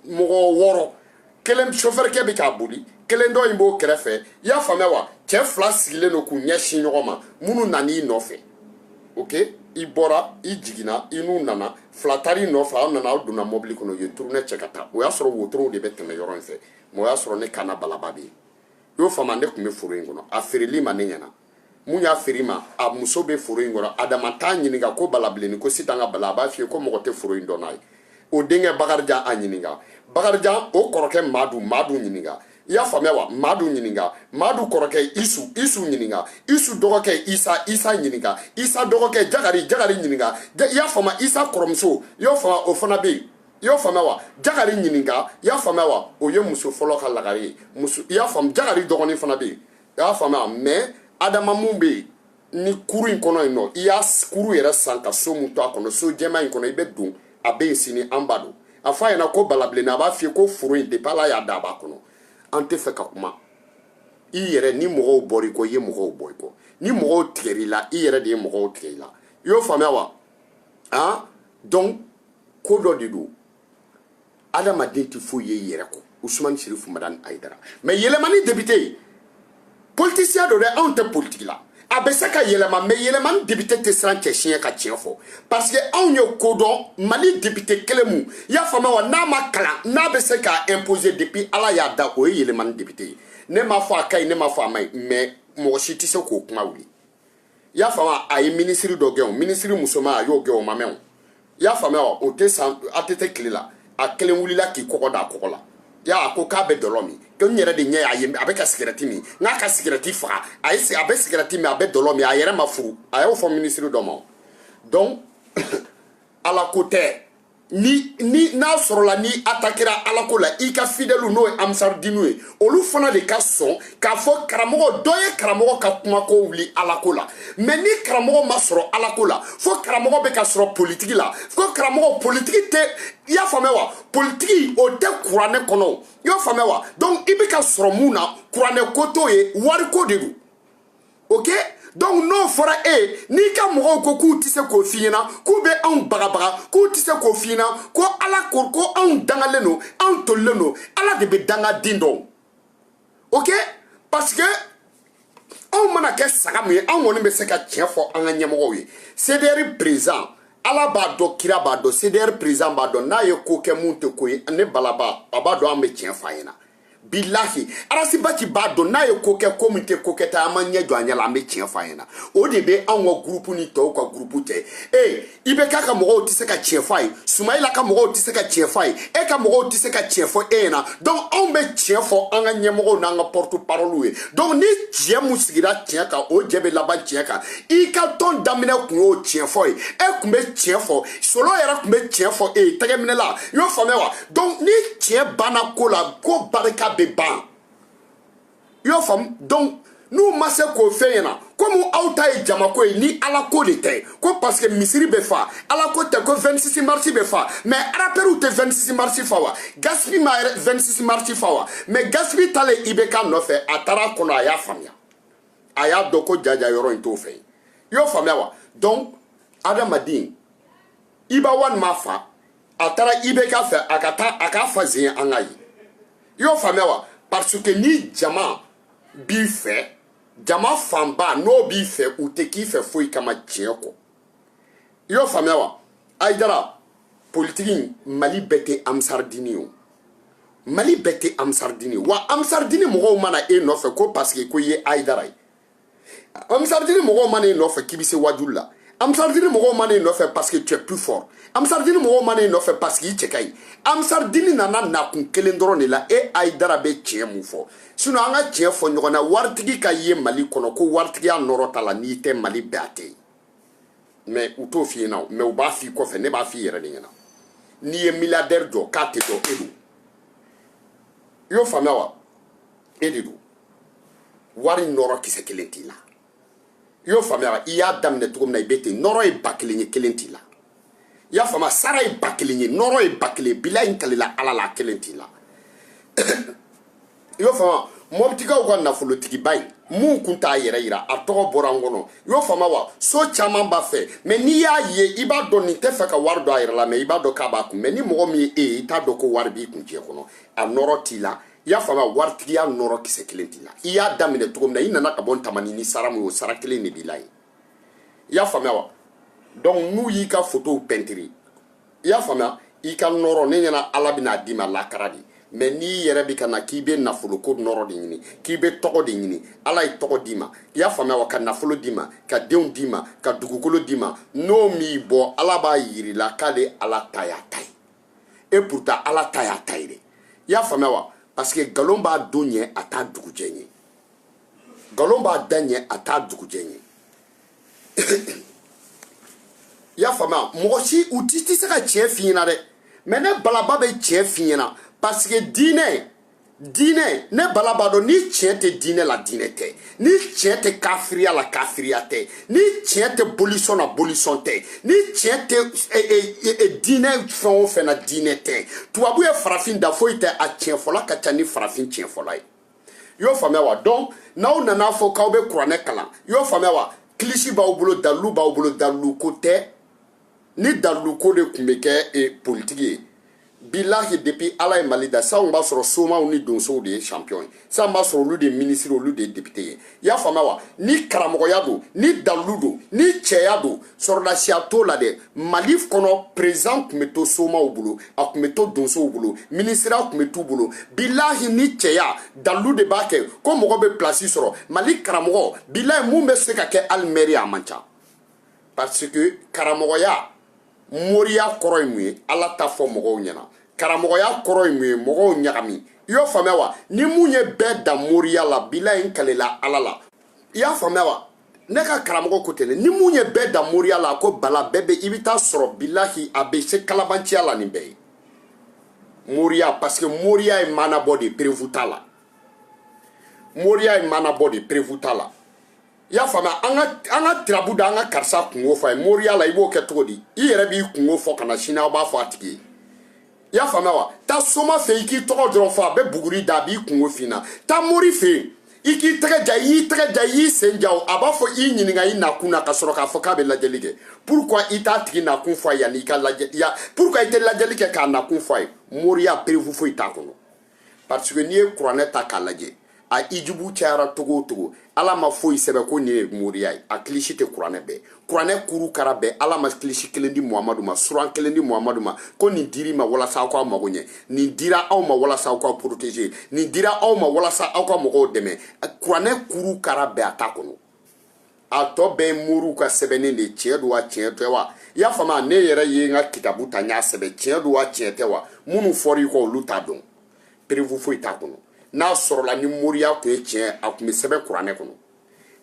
wɔɔrɔ kelen sofɛrikɛ bɛ k'a boli kelen dɔ in b'o kɛrɛfɛ i y'a faamuya wa cɛ fila sigilen don k'u ɲɛsin ɲɔgɔn ma minnu nan'i nɔfɛ ok i bɔra i jiginna i n'u nana fila taar'i nɔfɛ aw nana aw donna mɔbili kɔnɔ u ye turunɛ cɛ ka taa o y'a sɔrɔ wotorow de bɛ tɛmɛ yɔrɔ in fɛ mɛ o y'a sɔrɔ ne kana balaba bɛ yen i y'o faamu ne tun bɛ foro in kɔnɔ a feerel'i ma ne ɲɛna min y'a feer'i ma a muso bɛ foro in kɔnɔ adama t'a ɲininka ko balabilenni ko sitan ka bala a b'a f'i ye ko mɔgɔ tɛ foro in dɔn n'a ye o denkɛ bakarijan a ɲininka bakarijan o kɔrɔkɛ madu madu ɲininka i y'a faamuya wa madu ɲininka madu kɔrɔkɛ isu isu ɲininka isu dɔgɔkɛ isa isa ɲininka isa dɔgɔkɛ jagari jagari ɲininka i y'a faamuya isa kɔrɔmuso i y'o faamuya o fana bɛ yen i y'o faamuya wa jagari ɲininka i y'a faamuya wa o ye muso fɔlɔ ka lagare ye muso i y'a faamu jagari dɔgɔnin fana bɛ yen i y'a faamuya mais adama mun bɛ yen ni kuru in kɔnɔ yen nɔ i y'a kuru yɛrɛ san ka so mun to a kɔnɔ so jɛman in kɔnɔ i bɛ don a bɛ yen sini an ba don a fɔ a ɲɛna ko balabilenna a b'a f'i ye ko foro in depuis ala y'a da a b'a kɔnɔ an tɛ fɛ ka kuma i yɛrɛ ni mɔgɔw bɔra i kɔ i ye mɔgɔw bɔ i kɔ ni mɔgɔw tigɛr'i la i yɛrɛ de ye mɔgɔw tigɛ i la i y'o faamuya wa han donc ko dɔ de don adamaden tɛ foyi ye i yɛrɛ kɔ usumani sirifu madani ayidara mais yelimani député ye politicien don dɛ anw tɛ politiki la a bɛ se ka yɛlɛma mais yelimani député tɛ siran cɛ si ɲɛ ka tiɲɛ fɔ parce que anw ye ko dɔn mali député kelen mun i y'a faamuya wa n'a ma kalan n'a bɛ se k'a imposer depuis ala y'a da o ye yelimani député ye ne m'a fɔ a ka ɲi ne m'a fɔ a ma ɲi mais mɔgɔ si tɛ se k'o kuma wuli i y'a faamu a ye minisiri dɔ gɛn o minisiri musoman a y'o gɛn o ma mɛn o i y'a faamuya wa o tɛ san a tɛ tɛ tile la a kelen wulila k'i kɔgɔ da a kɔgɔ la y'a ko k'a bɛ dɔlɔ min ko n yɛrɛ de ɲɛ y'a ye a bɛ ka sigɛrɛti min n k'a ka sigɛrɛti faga a ye a bɛ sigɛrɛti min a bɛ dɔlɔ min a yɛrɛ ma furu a y'o fɔ minisiri dɔ ma o donc ala ko tɛ ni ni n'a sɔrɔla n'i atakira ala ko la i ka fidɛliw n'o ye ansaridiniw ye olu fana de ka sɔn k'a fɔ karamɔgɔ dɔ ye karamɔgɔ ka kumako wuli ala ko la mais ni karamɔgɔ ma sɔrɔ ala ko la fo karamɔgɔ bɛ ka sɔrɔ politiki la ko karamɔgɔ politiki tɛ i y'a faamuya wa politiki o tɛ kuranɛ kɔnɔ i y'a faamuya wa donc i bɛ ka sɔrɔ mun na kuranɛ ko t'o ye wariko de don ok donc n'o fɔra e n'i ka mɔgɔw ko k'u tɛ se k'o f'i ɲɛna k'u bɛ anw bagabaga k'u tɛ se k'o f'i ɲɛna ko ala ko anw dangalen don anw tolilen don ala de bɛ dangaden dɔn ok parce que anw mana kɛ saga min ye anw kɔni bɛ se ka tiɲɛ fɔ an ka ɲɛmɔgɔw ye cdr président ala b'a dɔn kira b'a dɔn cdr président b'a dɔn n'a ye ko kɛ mun tɛ ko ye ne balaba a b'a dɔn an bɛ tiɲɛ f'a ɲɛna bilahi arasibati b'a dɔn n'a ye ko kɛ ko min tɛ ko kɛta an b'an ɲɛ jɔ a ɲɛ la an bɛ tiɲɛ fɔ a ɲɛna o de bɛ anw ka gurupu ni tɔw ka gurupu cɛ ee ibk ka mɔgɔw tɛ se ka tiɲɛ fɔ a ye sumayila ka mɔgɔw tɛ se ka tiɲɛ fɔ a ye e ka mɔgɔw tɛ se ka tiɲɛ fɔ e ɲɛna donc anw bɛ tiɲɛ fɔ an ka ɲɛmɔgɔw n'an ka porte parole ye donc ni tiɲɛ mun sigira tiɲɛ kan o jɛ bɛ laban tiɲɛ kan i ka tɔn daminɛ kun y'o tiɲɛ fɔ ye e tun bɛ tiɲɛ fɔ solo yɛrɛ tun bɛ tiɲɛ fɔ e ye tɛgɛminɛla i y'o faamuya wa donc ni tiɲɛ banna ko la ko barika bɛ ban i y'o faamu donc n'u ma se k'o f'e ɲɛna komi aw ta ye jamako ye ni ala ko de tɛ ko parce que misiri bɛ fa ala ko tɛ ko 26 marisi bɛ fa mais arapɛriw tɛ 26 marisi fa wa gasipi ma 26 marisi fa wa mais gasipi taalen ibk nɔfɛ a taara kɔnɔ a y'a faamuya a y'a dɔn ko jaa jɔyɔrɔ in t'o fɛ i y'o faamuya wa donc adamaden iba one m'a fa a taara ibk fɛ a ka taa a k'a fa zen an ka ye i y'o faamuya wa parce que ni jama b'i fɛ jama fanba n'o b'i fɛ u tɛ k'i fɛ foyi kama tiɲɛ kɔ i y'o faamuya wa ayidara politiki mali bɛɛ tɛ amisardini ye o mali bɛɛ tɛ amisardini ye wa amisardini mɔgɔw ma na e nɔfɛ ko parce que ko i ye ayidara ye amisardini mɔgɔw ma na e nɔfɛ k'i bɛ se wajuli la amisardini mɔgɔw ma na e nɔfɛ parce que tu es plus fort amisardini mɔgɔw ma na e nɔfɛ parce que i cɛ ka ɲi amisardini nana nakun kelen dɔrɔn de la e ayidara bɛ tiɲɛ mun fɔ sinon an ka tiɲɛ fɔ ɲɔgɔn na waritigi ka ye mali kɔnɔ ko waritigiya nɔrɔ t'a la n'i tɛ mali bɛɛ a tɛ yen mais u t'o f'i ɲɛna o mais u b'a f'i kɔfɛ ne b'a f'i yɛrɛ de ɲɛna n'i ye milliardaire jɔ k'a tɛ dɔn e don i y'o faamuya wa e de don wari nɔrɔ kisɛ kelen t'i la i y'o faamuya i y'a daminɛ cogo min na i bɛ ten nɔrɔ ye ba kelen ye kelen t'i la i y'a faamuya sara ye ba kelen ye nɔrɔ ye ba kelen bilahi n kalila ala la a kelen t'i la i y'o faamuya mɔpitikaw ka nafolotigiba ye mun kun t'a yɛrɛ yira a tɔgɔ bɔra n kɔnɔ i y'o faamuya wa so caman b'a fɛ mais n'i y'a ye i b'a dɔn nin tɛ fɛ ka wari don a yɛrɛ la mais i b'a dɔn k'a b'a kun mais ni mɔgɔ min ye e ye i t'a dɔn ko wari b'i kun diɲɛ kɔnɔ a nɔrɔ t'i la i y'a faamuya waritigiya nɔrɔ kisɛ kelen t'i la i y'a daminɛ cogo min na i nana ka bɔ tamani ni sara min o sara kelen de b'i la ye i y'a faamuya wa donc n'u y'i ka fotow pɛntiri i y'a faamuya i ka nɔrɔ ne ɲɛna ala bɛn'a d'i ma lakara de mais n'i yɛrɛ bɛ ka na k'i bɛ nafoloko nɔrɔ de ɲini k'i bɛ tɔgɔ de ɲini ala ye tɔgɔ d'i ma i y'a faamuya wa ka nafolo d'i ma ka denw d'i ma ka dugukolo d'i ma n'o m'i bɔ ala b'a yir'i la k'ale ala ta y'a ta ye et pourtant ala ta y'a ta ye dɛ i y'a faamuya wa parce que nkalon b'a don ɲɛ a t'a dugujɛ ɲɛ nkalon b'a da ɲɛ a t'a dugujɛ ɲɛ i y'a faamuya mɔgɔ si u ti tɛ se ka tiɲɛ f'i ɲɛna dɛ mais ne balaba bɛ tiɲɛ f'i ɲɛna parce que diinɛ diinɛ ne bala b'a dɔn ni tiɲɛ tɛ diinɛ la diinɛ tɛ ni tiɲɛ tɛ kafiriya la kafiriya tɛ ni tiɲɛ tɛ bolisɔn na bolisɔn tɛ ni tiɲɛ tɛ e, e, e, diinɛ fɛn o fɛn na diinɛ tɛ tubabu ye farafin dan foyi tɛ a tiɲɛ fɔla ka ca ni farafin tiɲɛ fɔla ye i y'o faamuya wa donc n'aw nana fɔ k'aw bɛ kuranɛ kalan i y'o faamuya wa kilisi b'aw bolo dalilu b'aw bolo dalilu ko tɛ ni daliluko de tun bɛ kɛ e, politiki ye bilahi depuis ala ye mali da sisan b'a sɔrɔ somaw ni donsow de ye champion ye sisan b'a sɔrɔ olu de ye minisiri olu de ye depite ye i y'a faamuya wa ni karamɔgɔya don ni dalilu don ni cɛya don sɔrɔdasiya t'o la dɛ mali kɔnɔ président tun bɛ to somaw bolo a tun bɛ to donsow bolo minisiriya tun bɛ t'u bolo bilahi ni cɛya dalilu de b'a kɛ ko mɔgɔ bɛ pilasi sɔrɔ mali karamɔgɔ bilahi mun bɛ se ka kɛ hali mɛri a man ca parce que karamɔgɔya moriya kɔrɔ ye mun ye ala ta fɔ mɔgɔw ɲɛna karamɔgɔya kɔrɔ ye mun ye mɔgɔw ɲagami i y'o faamuya wa ni mun ye bɛɛ da moriya la bilahi n kalela ala la i y'a faamuya wa ne ka karamɔgɔ ko tɛnɛ ni mun ye bɛɛ da moriya la ko bala bɛɛ bɛ i bɛ taa sɔrɔ bilahi a bɛ se kalabanciya la nin bɛɛ ye moriya parce que moriya ye maanabɔ de preuve t'a la moriya ye maanabɔ de preuve t'a la i y'a faamuya an ka an ka tirabu da an ka karisa kungo fɔ a ye moriya la i b'o kɛ cogo di i yɛrɛ b'i kungo fɔ ka na sini aw b'a fɔ a tigi ye i y'a faamuya wa taa soma fɛ i k'i tɔgɔ dɔrɔn fɔ a bɛ buguri da a b'i kungo f'i ɲɛna taa mori fɛ yen i k'i tɛgɛ ja i y'i tɛgɛ ja i y'i sen ja o a b'a fɔ i ɲininka i nakun na ka sɔrɔ k'a fɔ k'a bɛ lajɛli kɛ pourquoi i t'a tigi nakun fɔ a ye yanni i ka lajɛ ya pourquoi i tɛ lajɛli kɛ k'a nakun fɔ a ye moriya preuve foyi t'a kɔnɔ parce que n'i ye kuranɛ ta k'a lajɛ a ijubu cayara cogo o cogo ala ma foyi sɛbɛ ko nin ye moriya ye a kilisi tɛ kuranɛ bɛɛ kuranɛ kuru kara bɛɛ ala ma kilisi kelen di muhamadu ma suran kelen di muhamadu ma ko nin dir'i ma walasa aw k'aw mago ɲɛ nin dira aw ma walasa aw k'aw protéger nin dira aw ma walasa aw ka mɔgɔw dɛmɛ kuranɛ kuru kara bɛɛ a t'a kɔnɔ a tɔ bɛɛ ye moriw ka sɛbɛnnen de ye tiɲɛ don wa tiɲɛ tɛ wa i y'a faamu ne yɛrɛ ye n ka kitabu ta n y'a sɛbɛn tiɲɛ don wa tiɲɛ tɛ wa minnu fɔra i kɔ olu t'a dɔn preuve foyi t'a kɔnɔ n'a sɔrɔla ni moriya tun ye tiɲɛ a tun bɛ sɛbɛn kuranɛ kɔnɔ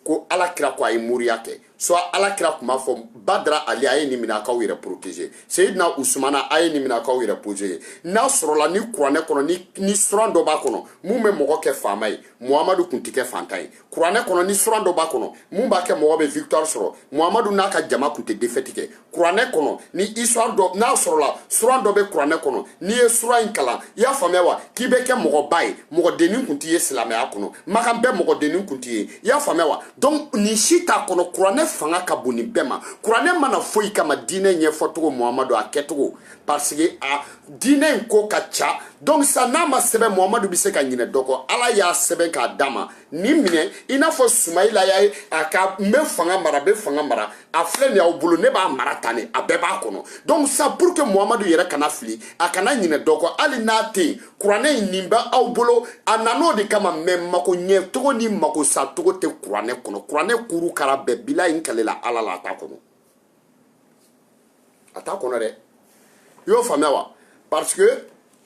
ko ala kira ko a ye moriya kɛ soit ala kira tun b'a fɔ badara ali a ye nin minɛ a k'aw yɛrɛ protéger seyidina usumana a ye nin minɛ a k'aw yɛrɛ protéger n'a sɔrɔla ni kuranɛ kɔnɔ ni suran dɔ b'a kɔnɔ mun bɛ mɔgɔ kɛ faama ye muhamadu tun tɛ kɛ fantan ye kuranɛ kɔnɔ ni suran dɔ b'a kɔnɔ mun b'a kɛ mɔgɔ bɛ victoire sɔrɔ muhamadu n'a ka jama tun tɛ défaite kɛ kuranɛ kɔnɔ ni histoire dɔ n'a sɔrɔla suran dɔ bɛ kuranɛ kɔnɔ n'i ye suran in kalan i y'a faamuya wa k'i bɛ kɛ mɔgɔba ye mɔgɔdennin kun tɛ ye silamɛya kɔnɔ makan bɛɛ mɔgɔdennin kun tɛ ye i y'a faamuya wa donc nin si t'a kɔnɔ kuranɛ fanga ka bon nin bɛɛ ma kuranɛ ma na foyi kama diinɛ ɲɛfɔcogo muhamadu a kɛcogo parce que a diinɛ in ko ka ca donc sa n'a ma sɛbɛn muhamadu bɛ se ka ɲinɛ dɔ kɔ ala y'a sɛbɛn k'a d'a ma nin minɛ i n'a fɔ sumayila y'a ye a ka n bɛ fanga mara bɛ fanga mara a filɛ nin y'aw bolo ne b'a mara tan de a bɛɛ b'a kɔnɔ donc sa pour que muhamadu yɛrɛ kana fili a kana ɲinɛ dɔ kɔ hali n'a tɛ yen kuranɛ in nin bɛ aw bolo a nan'o de kama mais mako ɲɛ cogo ni mako sa cogo tɛ kuranɛ kɔnɔ kuranɛ kuru kara bɛɛ bilahi n kalela ala la a t'a kɔnɔ a t'a kɔnɔ dɛ i y'o faamuya wa parce que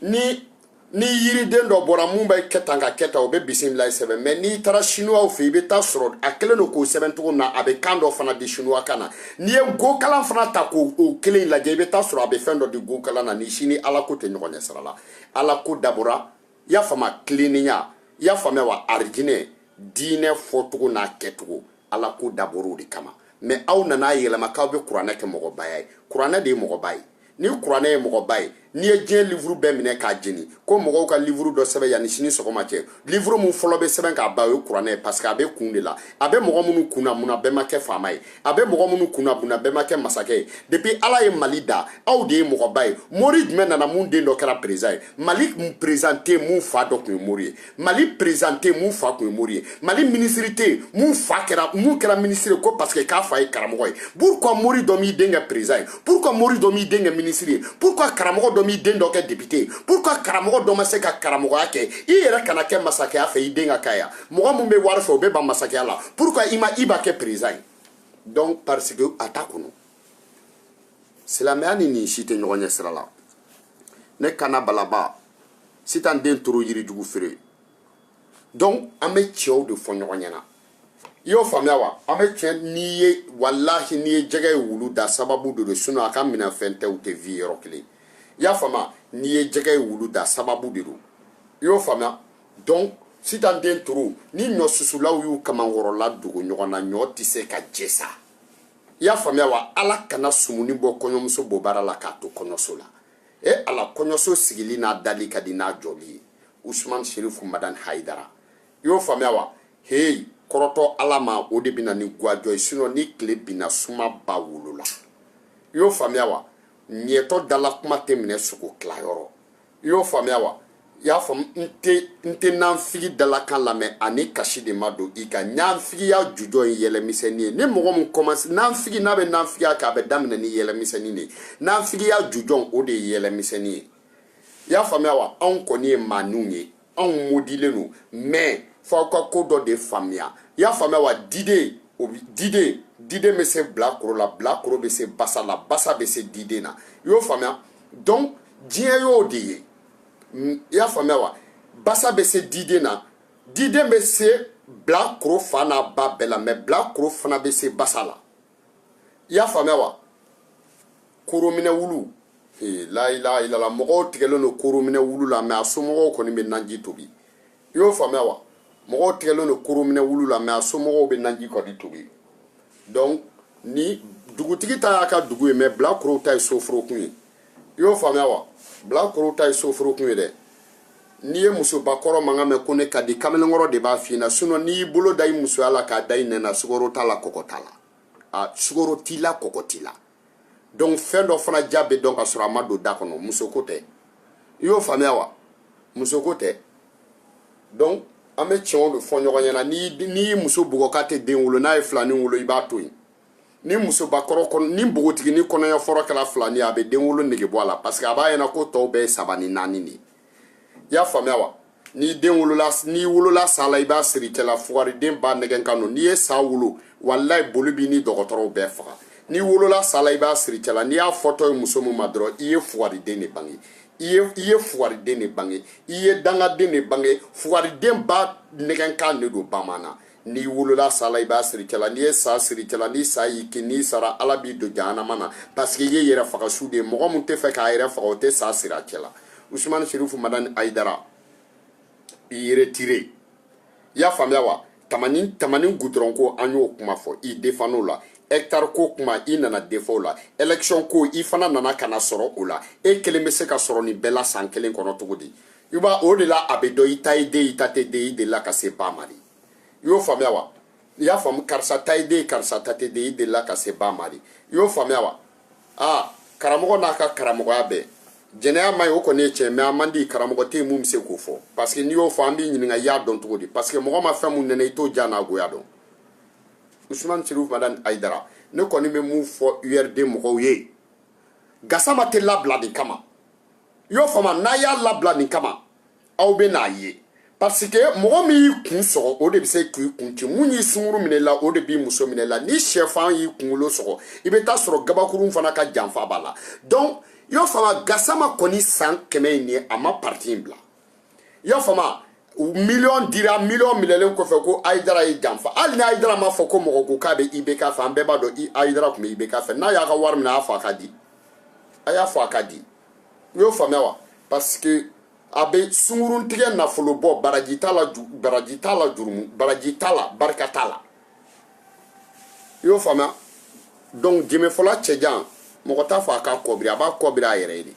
ni ni yiriden dɔ bɔra mun bɛ kɛ tan ka kɛ tan o bɛ bisimilayi sɛbɛn mais n'i taara sinuwaw fɛ i bɛ taa sɔrɔ a kɛlen don k'o sɛbɛn cogo min na a bɛ kan dɔ fana di sinuwa kan na n'i ye gokalan fana ta k'o o kelen lajɛ i bɛ taa sɔrɔ a bɛ fɛn dɔ di gokalan na ni sini ala ko tɛ ɲɔgɔn ɲɛ sira la ala ko dabɔra i y'a faamuya tilennenya i y'a faamuya wa arijinɛ diinɛ fɔcogo n'a kɛcogo ala ko dabɔr'o de kama mɛ aw nana yɛlɛma k'aw bɛ kuranɛ kɛ mɔgɔbaya ye kuranɛ de ye mɔgɔba ye ni kuranɛ ye mɔgɔba ye n'i ye diɲɛ livuru bɛɛ minɛ k'a jeni ko mɔgɔw ka livuru dɔ sɛbɛn yanni sini sɔgɔma cɛ livuru min fɔlɔ bɛ sɛbɛn k'a ban o ye kuranɛ ye parce que a bɛ kun de la a bɛ mɔgɔ minnu kunna munna bɛɛ ma kɛ faama ye a bɛ mɔgɔ minnu kunna munna bɛɛ ma kɛ masakɛ ye depuis ala ye mali da aw de ye mɔgɔba ye mori jumɛn nana mun den dɔ kɛra président ye mali président tɛ yen mun fa dɔ tun ye mori ye mali président tɛ yen mun fa tun ye mori ye mali minisiri tɛ yen mun fa kɛra mun kɛra minisiri ye ko parce que k'a fa ye karamɔgɔ ye pourquoi mori dɔ m'i den kɛ président ye pourquoi mori dɔ m'i den kɛ minisiri ye pourquoi karamɔgɔ dɔ m'i den dɔ kɛ depite ye pourquoi karamɔgɔ dɔ ma se ka karamɔgɔya kɛ i yɛrɛ kana kɛ masakɛya fɛ i den ka k'a ye mɔgɔ min bɛ wari fɛ o bɛ ban masakɛya la pourquoi i ma i ba kɛ président ye donc parce que a t'a kɔnɔ silamɛya ni nin si tɛ ɲɔgɔn ɲɛ sira la ne kana balaba sitan den toro yirijugu feere donc an bɛ cɛn de fɔ ɲɔgɔn ɲɛna i y'o faamuya wa an bɛ cɛ n'i ye walahi n'i ye jɛgɛ ye wulu da sababu de don sinɔn a ka minɛfɛn tɛ u tɛ vi yɔrɔ kelen i y'a faamuya n'i ye jɛgɛ ye wulu da sababu de don i y'o faamuya donc sitan den toro ni ɲɔ susulaw y'u kamankɔrɔla dogo ɲɔgɔn na ɲɔ tɛ se ka jɛ sa i y'a faamuya wa ala kana sumuni bɔ kɔɲɔmuso bobara la k'a to kɔɲɔso la e ala kɔɲɔso sigili n'a dali ka di n'a jɔli ye usman sherifu madan haidara i y'o faamuya wa heyi kɔrɔtɔ ala ma o de bɛ na ni gwajɔ ye sinɔn ni tile binna suma ba wolo la i y'o faamuya wa mɛtɔ dalakuma tɛ minɛ sogo tilayɔrɔ i y'o faamuya wa i y'a faamu n tɛ n tɛ nanfigi dalakan lamɛn ani kasi de ma don i ka nanfigiya jujɔn ye yɛlɛmisɛnnin ye ni mɔgɔ min kɔmanse nanfigi n'a bɛ nanfigiya kɛ a bɛ daminɛ ni yɛlɛmisɛnnin de ye nanfigiya jujɔn o de ye yɛlɛmisɛnnin ye i y'a faamuya wa anw kɔni ye maaninw ye anw modilen don mais f'aw ka ko dɔ de faamuya i y'a faamuya wa diden o diden diden bɛ se bilakoro la bilakoro bɛ se basa la basa bɛ se diden na i y'o faamuya donc diɲɛ y'o de ye i y'a faamuya wa basa bɛ se diden na diden bɛ se bilakoro fa n'a ba bɛɛ la mɛ bilakoro fana bɛ se basa la i y'a faamuya wa korominɛ wulu ee layilaha ilala mɔgɔw tigɛlen don korominɛ wulu la mɛ a somɔgɔw kɔni bɛ naji tobi i y'o faamuya wa mɔgɔw tigɛlen don korominɛ wulu la mɛ a somɔgɔw bɛ naji kɔni tobi donc ni dugutigi ta y'a ka dugu ye mɛ bilakorow ta ye soforokun ye i y'o faamuya wa bilakorow ta ye soforokun ye dɛ n'i ye musobakɔrɔ mankan mɛn ko ne ka di kamalenkɔrɔ de b'a f'i ɲɛna sinɔn n'i y'i bolo da i musoya la k'a da i nɛn na sukoro t'a la kɔkɔ t'a la a sukoro t'i la kɔkɔ t'i la donc fɛn dɔ fana diya bɛ dɔn ka sɔrɔ a ma don da kɔnɔ musoko tɛ i y'o faamuya wa musoko tɛ donc an bɛ tiɲɛw de fɔ ɲɔgɔn ɲɛna n'i y'i muso bugɔ k'a tɛ den wolo n'a ye filani wolo i b'a to yen ni musobakɔrɔ kɔnɔ ni npogotigini kɔnɔɲɛ fɔlɔ kɛra filani ye a bɛ den wolo nege bɔ a la parce que a b'a ɲɛna ko tɔw bɛɛ ye saba ni naani de ye i y'a faamuya wa ni n'i wolola sa la i b'a siri cɛla fugariden ba nɛgɛn kan don n'i ye sa wolo walayi boli b'i ni dɔgɔtɔrɔw bɛɛ faga n'i wolola sa la i b'a siri cɛla n'i y'a fɔtɔ ye muso min ma dɔrɔn i ye fugariden de bange i ye fugariden de bange i ye dangaden de bange fugariden ba nɛgɛn kan de don bamanan n'i wolola sa la i b'a siri cɛla n'i ye sa siri cɛla ni sa y'i kin n'i sara ala b'i don jahanama na parce que i ye yɛrɛfagasu de ye mɔgɔ min tɛ fɛ k'a yɛrɛ faga o tɛ sa siri a cɛla usumani serifu madani ayidara i retiré i y'a faamuya wa tamani gudɔrɔn ko an y'o kuma fɔ i defan o la hɛkitari ko kuma i nana defan o la ɛlɛkisɔn ko i fana nana ka na sɔrɔ o la e kelen bɛ se ka sɔrɔ nin bɛɛ la san kelen kɔnɔ cogo di i b'a o de la a bɛ dɔn i ta ye den i ta tɛ den i delila ka se ba ma de i y'o faamuya wa i y'a faamu karisa ta ye den karisa ta tɛ den i delila ka se ba ma de i y'o faamuya wa aa karamɔgɔ n'a ka karamɔgɔya bɛɛ jɛnɛya man ɲi o kɔni ye tiɲɛ mais a man di karamɔgɔ tɛ yen mun bɛ se k'o fɔ parce que n'i y'o fɔ an b'i ɲininka i y'a dɔn cogo di parce que mɔgɔ ma fɛn mun nɛnɛ i t'o diya n'a goya dɔn usumani serifu madani ayidara ne kɔni bɛ mun fɔ urd mɔgɔw ye gasama tɛ labila nin kama i y'o faamu n'a y'a labila nin kama aw bɛ n'a ye parce que mɔgɔ min y'i kun sɔgɔ o de bɛ se k'i kun ci mun y'i sunguru minɛ la o de b'i muso minɛ la ni sɛfan y'i kunkolo sɔgɔ i bɛ t'a sɔrɔ gabakurun fana ka janfa b'a la donc i y'o faamu gasama kɔni san kɛmɛ in ye a ma parti in bila i y'a faamu miliyɔn dira miliyɔn minɛlen kɔfɛ ko ayidara ye janfa hali ni ayidara m'a fɔ ko mɔgɔ ko k'a bɛ ibk fɛ an bɛɛ b'a dɔn ayidara tun bɛ ibk fɛ n'a y'a ka wari minɛ a y'a fɔ a ka di a y'a fɔ a ka di i y'o faamuya wa parce que a bɛ sunguruntigɛ nafolo bɔ baraji t'a la baraji t'a la jurumu baraji t'a la barika t'a la i y'o faamuya donc jenbefɔla cɛjan mɔgɔ t'a fɔ a k'a kɔbiri a b'a kɔbiri a yɛrɛ ye de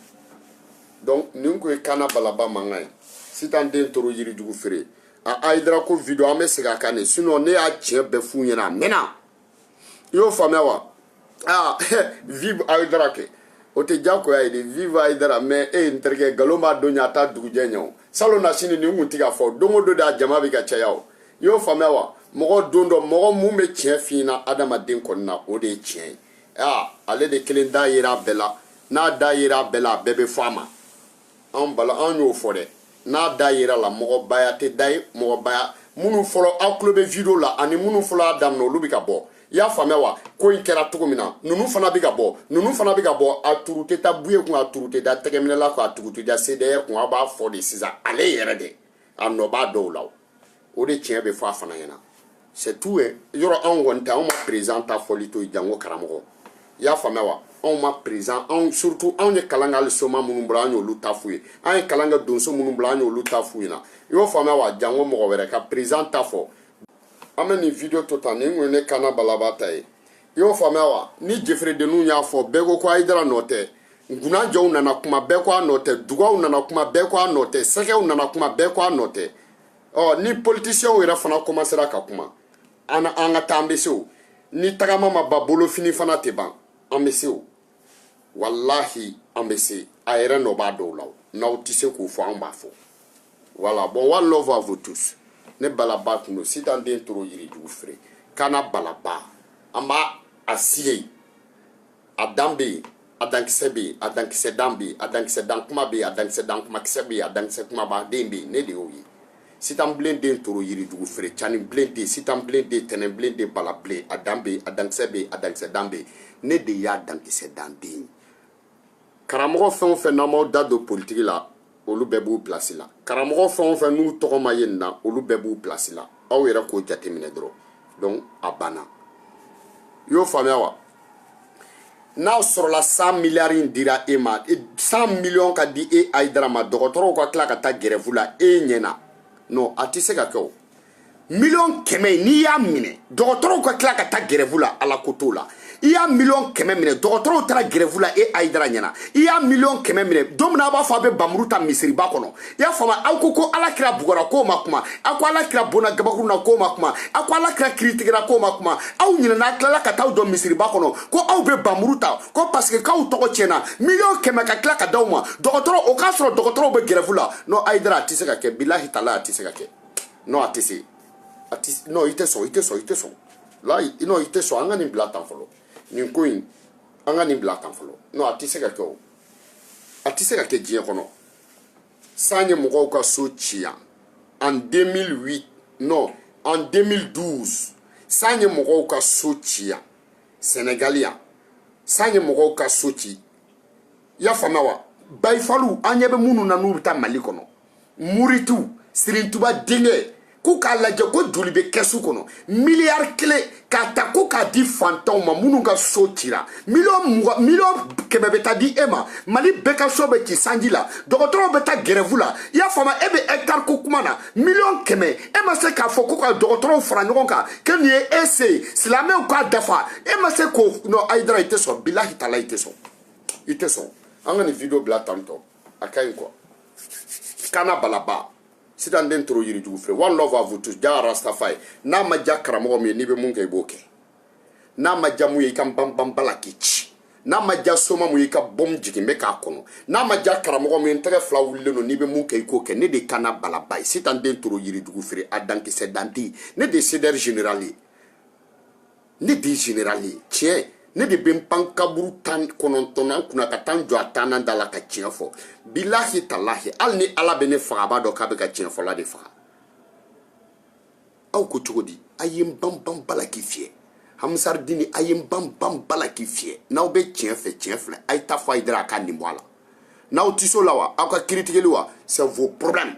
donc nin kun ye kana balaba mankan ye sitan den toro yirijugu feere a ayidara ko video an bɛ segin a kan de sinon ne y'a tiɲɛ bɛɛ f'u ɲɛna a mɛnna i y'o faamuya wa aa vive ayidara kɛ o tɛ diyagoya ye de vive ayidara mais e ye n terikɛ nkalon b'a don ɲɛ a t'a dugujɛ ɲɛ o salonnasini nin kun tɛ ka fɔ don o don de a jama bɛ ka caya o i y'o faamuya wa mɔgɔ don dɔ mɔgɔ mun bɛ tiɲɛ f'i ɲɛna adamaden kɔni na o de ye tiɲɛ ye aa ale de kelen da yera a bɛɛ la n'a da yera a bɛɛ la a bɛɛ bɛ fɔ a ma anw bala anw y'o fɔ dɛ n'a da yera la mɔgɔbaya tɛ da ye mɔgɔbaya minnu fɔlɔ aw tulo bɛ video la ani minnu fɔlɔ y'a daminɛ olu bɛ ka bɔ i y'a faamuya wa ko in kɛra cogo min na ninnu fana bɛ ka bɔ ninnu fana bɛ ka bɔ a turu tɛ taa buye kun a turu tɛ da tɛgɛminɛla kun a turu tɛ da CDR kun a b'a fɔ de sisan ale yɛrɛ de a nɔ b'a dɔw la o de tiɲɛ bɛ fɔ a fana ɲɛna c'est tout ye yɔrɔ anw kɔni tɛ anw ma président ta fɔli to yen janko karamɔgɔ i y'a faamuya wa anw ma président surtout anw ye kalan kɛ hali soma minnu bolo an y'olu ta f'u ye an ye kalan kɛ donso minnu bolo an y'olu ta f'u ɲɛna i y'o faamuya wa janko mɔgɔ wɛrɛ ka président ta fɔ an bɛ nin video to tan nin kun ye ne kana balaba ta ye i y'o faamuya wa ni jeferedenninw y'a fɔ bɛɛ ko ko ayidara nɔ tɛ nkunanjɛw nana kuma bɛɛ ko a nɔ tɛ dugaw nana kuma bɛɛ ko a nɔ tɛ sɛgɛw nana kuma bɛɛ ko a nɔ tɛ ɔ ni politisiyɛnw yɛrɛ fana kɔmasera ka kuma an an ka taa an bɛ se o ni tagama ma ban bolofinifana tɛ ban an bɛ se o walahi an bɛ se a yɛrɛ nɔ b'a dɔw la n'aw tɛ se k'o fɔ an b'a fɔ voilà bon one love à vous tous ne balaba tun don sitan den toro yirijugu feere kana balaba an b'a a siye a dan bɛ yen a dankisɛ bɛ yen a dankisɛ dan bɛ yen a dankisɛ dan kuma bɛ yen a dankisɛ dan kuma kisɛ bɛ yen a dankisɛ kuma b'a den bɛ yen ne de y'o ye sitan bilen den toro yirijugu feere cani bilen den sitan bilen den tɛnɛn bilen den bala bilen a dan bɛ yen a dankisɛ bɛ yen a dankisɛ dan bɛ yen ne de y'a dankisɛ dan den ye karamɔgɔ fɛn o fɛn n'aw m'aw da don politiki la olu bɛɛ b'u pilasi la karamɔgɔ fɛn o fɛn n'u tɔgɔ ma ye nin na olu bɛɛ b'u pilasi la aw yɛrɛ k'o jateminɛ dɔrɔn donc a banna i y'o faamuya wa n'a sɔrɔla san miliyari in dira e ma san miliyɔn ka di e ayidara ma dɔgɔtɔrɔw ka tila ka taa gɛrɛfu la e ɲɛna non a tɛ se ka kɛ o miliyɔn kɛmɛ n'i y'a minɛ dɔgɔtɔrɔw ka tila ka taa gɛrɛfu la ala ko t'o la i y'a miliyɔn kɛmɛ minɛ dɔgɔtɔrɔw taara gɛrɛfu la e ayidara ɲɛna i y'a miliyɔn kɛmɛ minɛ don min a b'a fɔ a bɛ bamuru ta misiriba kɔnɔ i y'a faamu aw ko ko ala kira bugɔra k'o ma kuma aw ko ala kira bonna gabakuru na k'o ma kuma aw ko ala kira kiritigɛra k'o ma kuma aw ɲinɛna aw tilala ka t'aw don misiriba kɔnɔ ko aw bɛ bamuru ta ko paseke k'aw tɔgɔ tiɲɛna miliyɔn kɛmɛ ka tila ka d'aw ma dɔgɔtɔrɔ o k'a sɔrɔ dɔgɔtɔrɔw bɛ gɛrɛfu la non ayidara a tɛ se ka kɛ bilahi tala a tɛ se ka kɛ non a tɛ se a tɛ non i tɛ sɔn i tɛ sɔn i tɛ sɔn la non i tɛ sɔn an ka nin bila tan fɔlɔ nin ko in an ka nin bila tan fɔlɔ non a tɛ se ka kɛ o a tɛ se ka kɛ diɲɛ kɔnɔ san ye mɔgɔw ka so ci yan en 2008 non en 2012 san ye mɔgɔw ka so ci yan sɛnɛgali yan san ye mɔgɔw ka so ci i y'a faamuya wa bayifalu an ɲɛ bɛ minnu na n'u bɛ taa mali kɔnɔ muritu sirintuba denkɛ k'u k'a lajɛ ko joli bɛ kɛsu kɔnɔ miliyari kelen k'a ta ko k'a di fantanw ma minnu ka so cira miliyɔn kɛmɛ bɛ taa di e ma mali bɛɛ ka so bɛ ci sanji la dɔgɔtɔrɔw bɛ taa gɛrɛfu la i y'a faamu e bɛ hɛkitari ko kuma na miliyɔn kɛmɛ e ma se k'a fɔ ko ka dɔgɔtɔrɔw fara ɲɔgɔn kan ko nin ye e se ye silamɛw k'a dafa e ma se k'o non ayidara i tɛ sɔn bilahi tala i tɛ sɔn i tɛ sɔn an ka nin video bila tantɔ a ka ɲi quoi kana balaba sitan den toro yirijugu feere one love à vous tous ja rastafari n'a ma ja karamɔgɔ min ye n'i bɛ mun kɛ i b'o kɛ n'a ma ja mun ye i ka banban bala k'i ci n'a ma ja soma mun ye i ka bɔmu jigin bɛ k'a kɔnɔ n'a ma ja karamɔgɔ min ye n tɛgɛ fila wulilen don n'i bɛ mun kɛ i k'o kɛ ne de kana balaba ye sitan den toro yirijugu feere a dankisɛ dan tɛ ne de CDR general ye ne de general ye tiɲɛ ne de bɛ n pan kaburu tan kɔnɔntɔnnan kunna ka taa n jɔ a tannan da la ka tiɲɛ fɔ bilahi talahi hali ni ala bɛ ne faga a b'a dɔn k'a bɛ ka tiɲɛ fɔla de faga aw ko cogo di a ye n banban bala k'i fiyɛ hamisaridini a ye n banban bala k'i fiyɛ n'aw bɛ tiɲɛ fɛ tiɲɛ filɛ a ye taa fɔ ayidara a k'a nin bɔ a la n'aw tɛ se o la wa aw ka kiritigeli wa c'est vos problèmes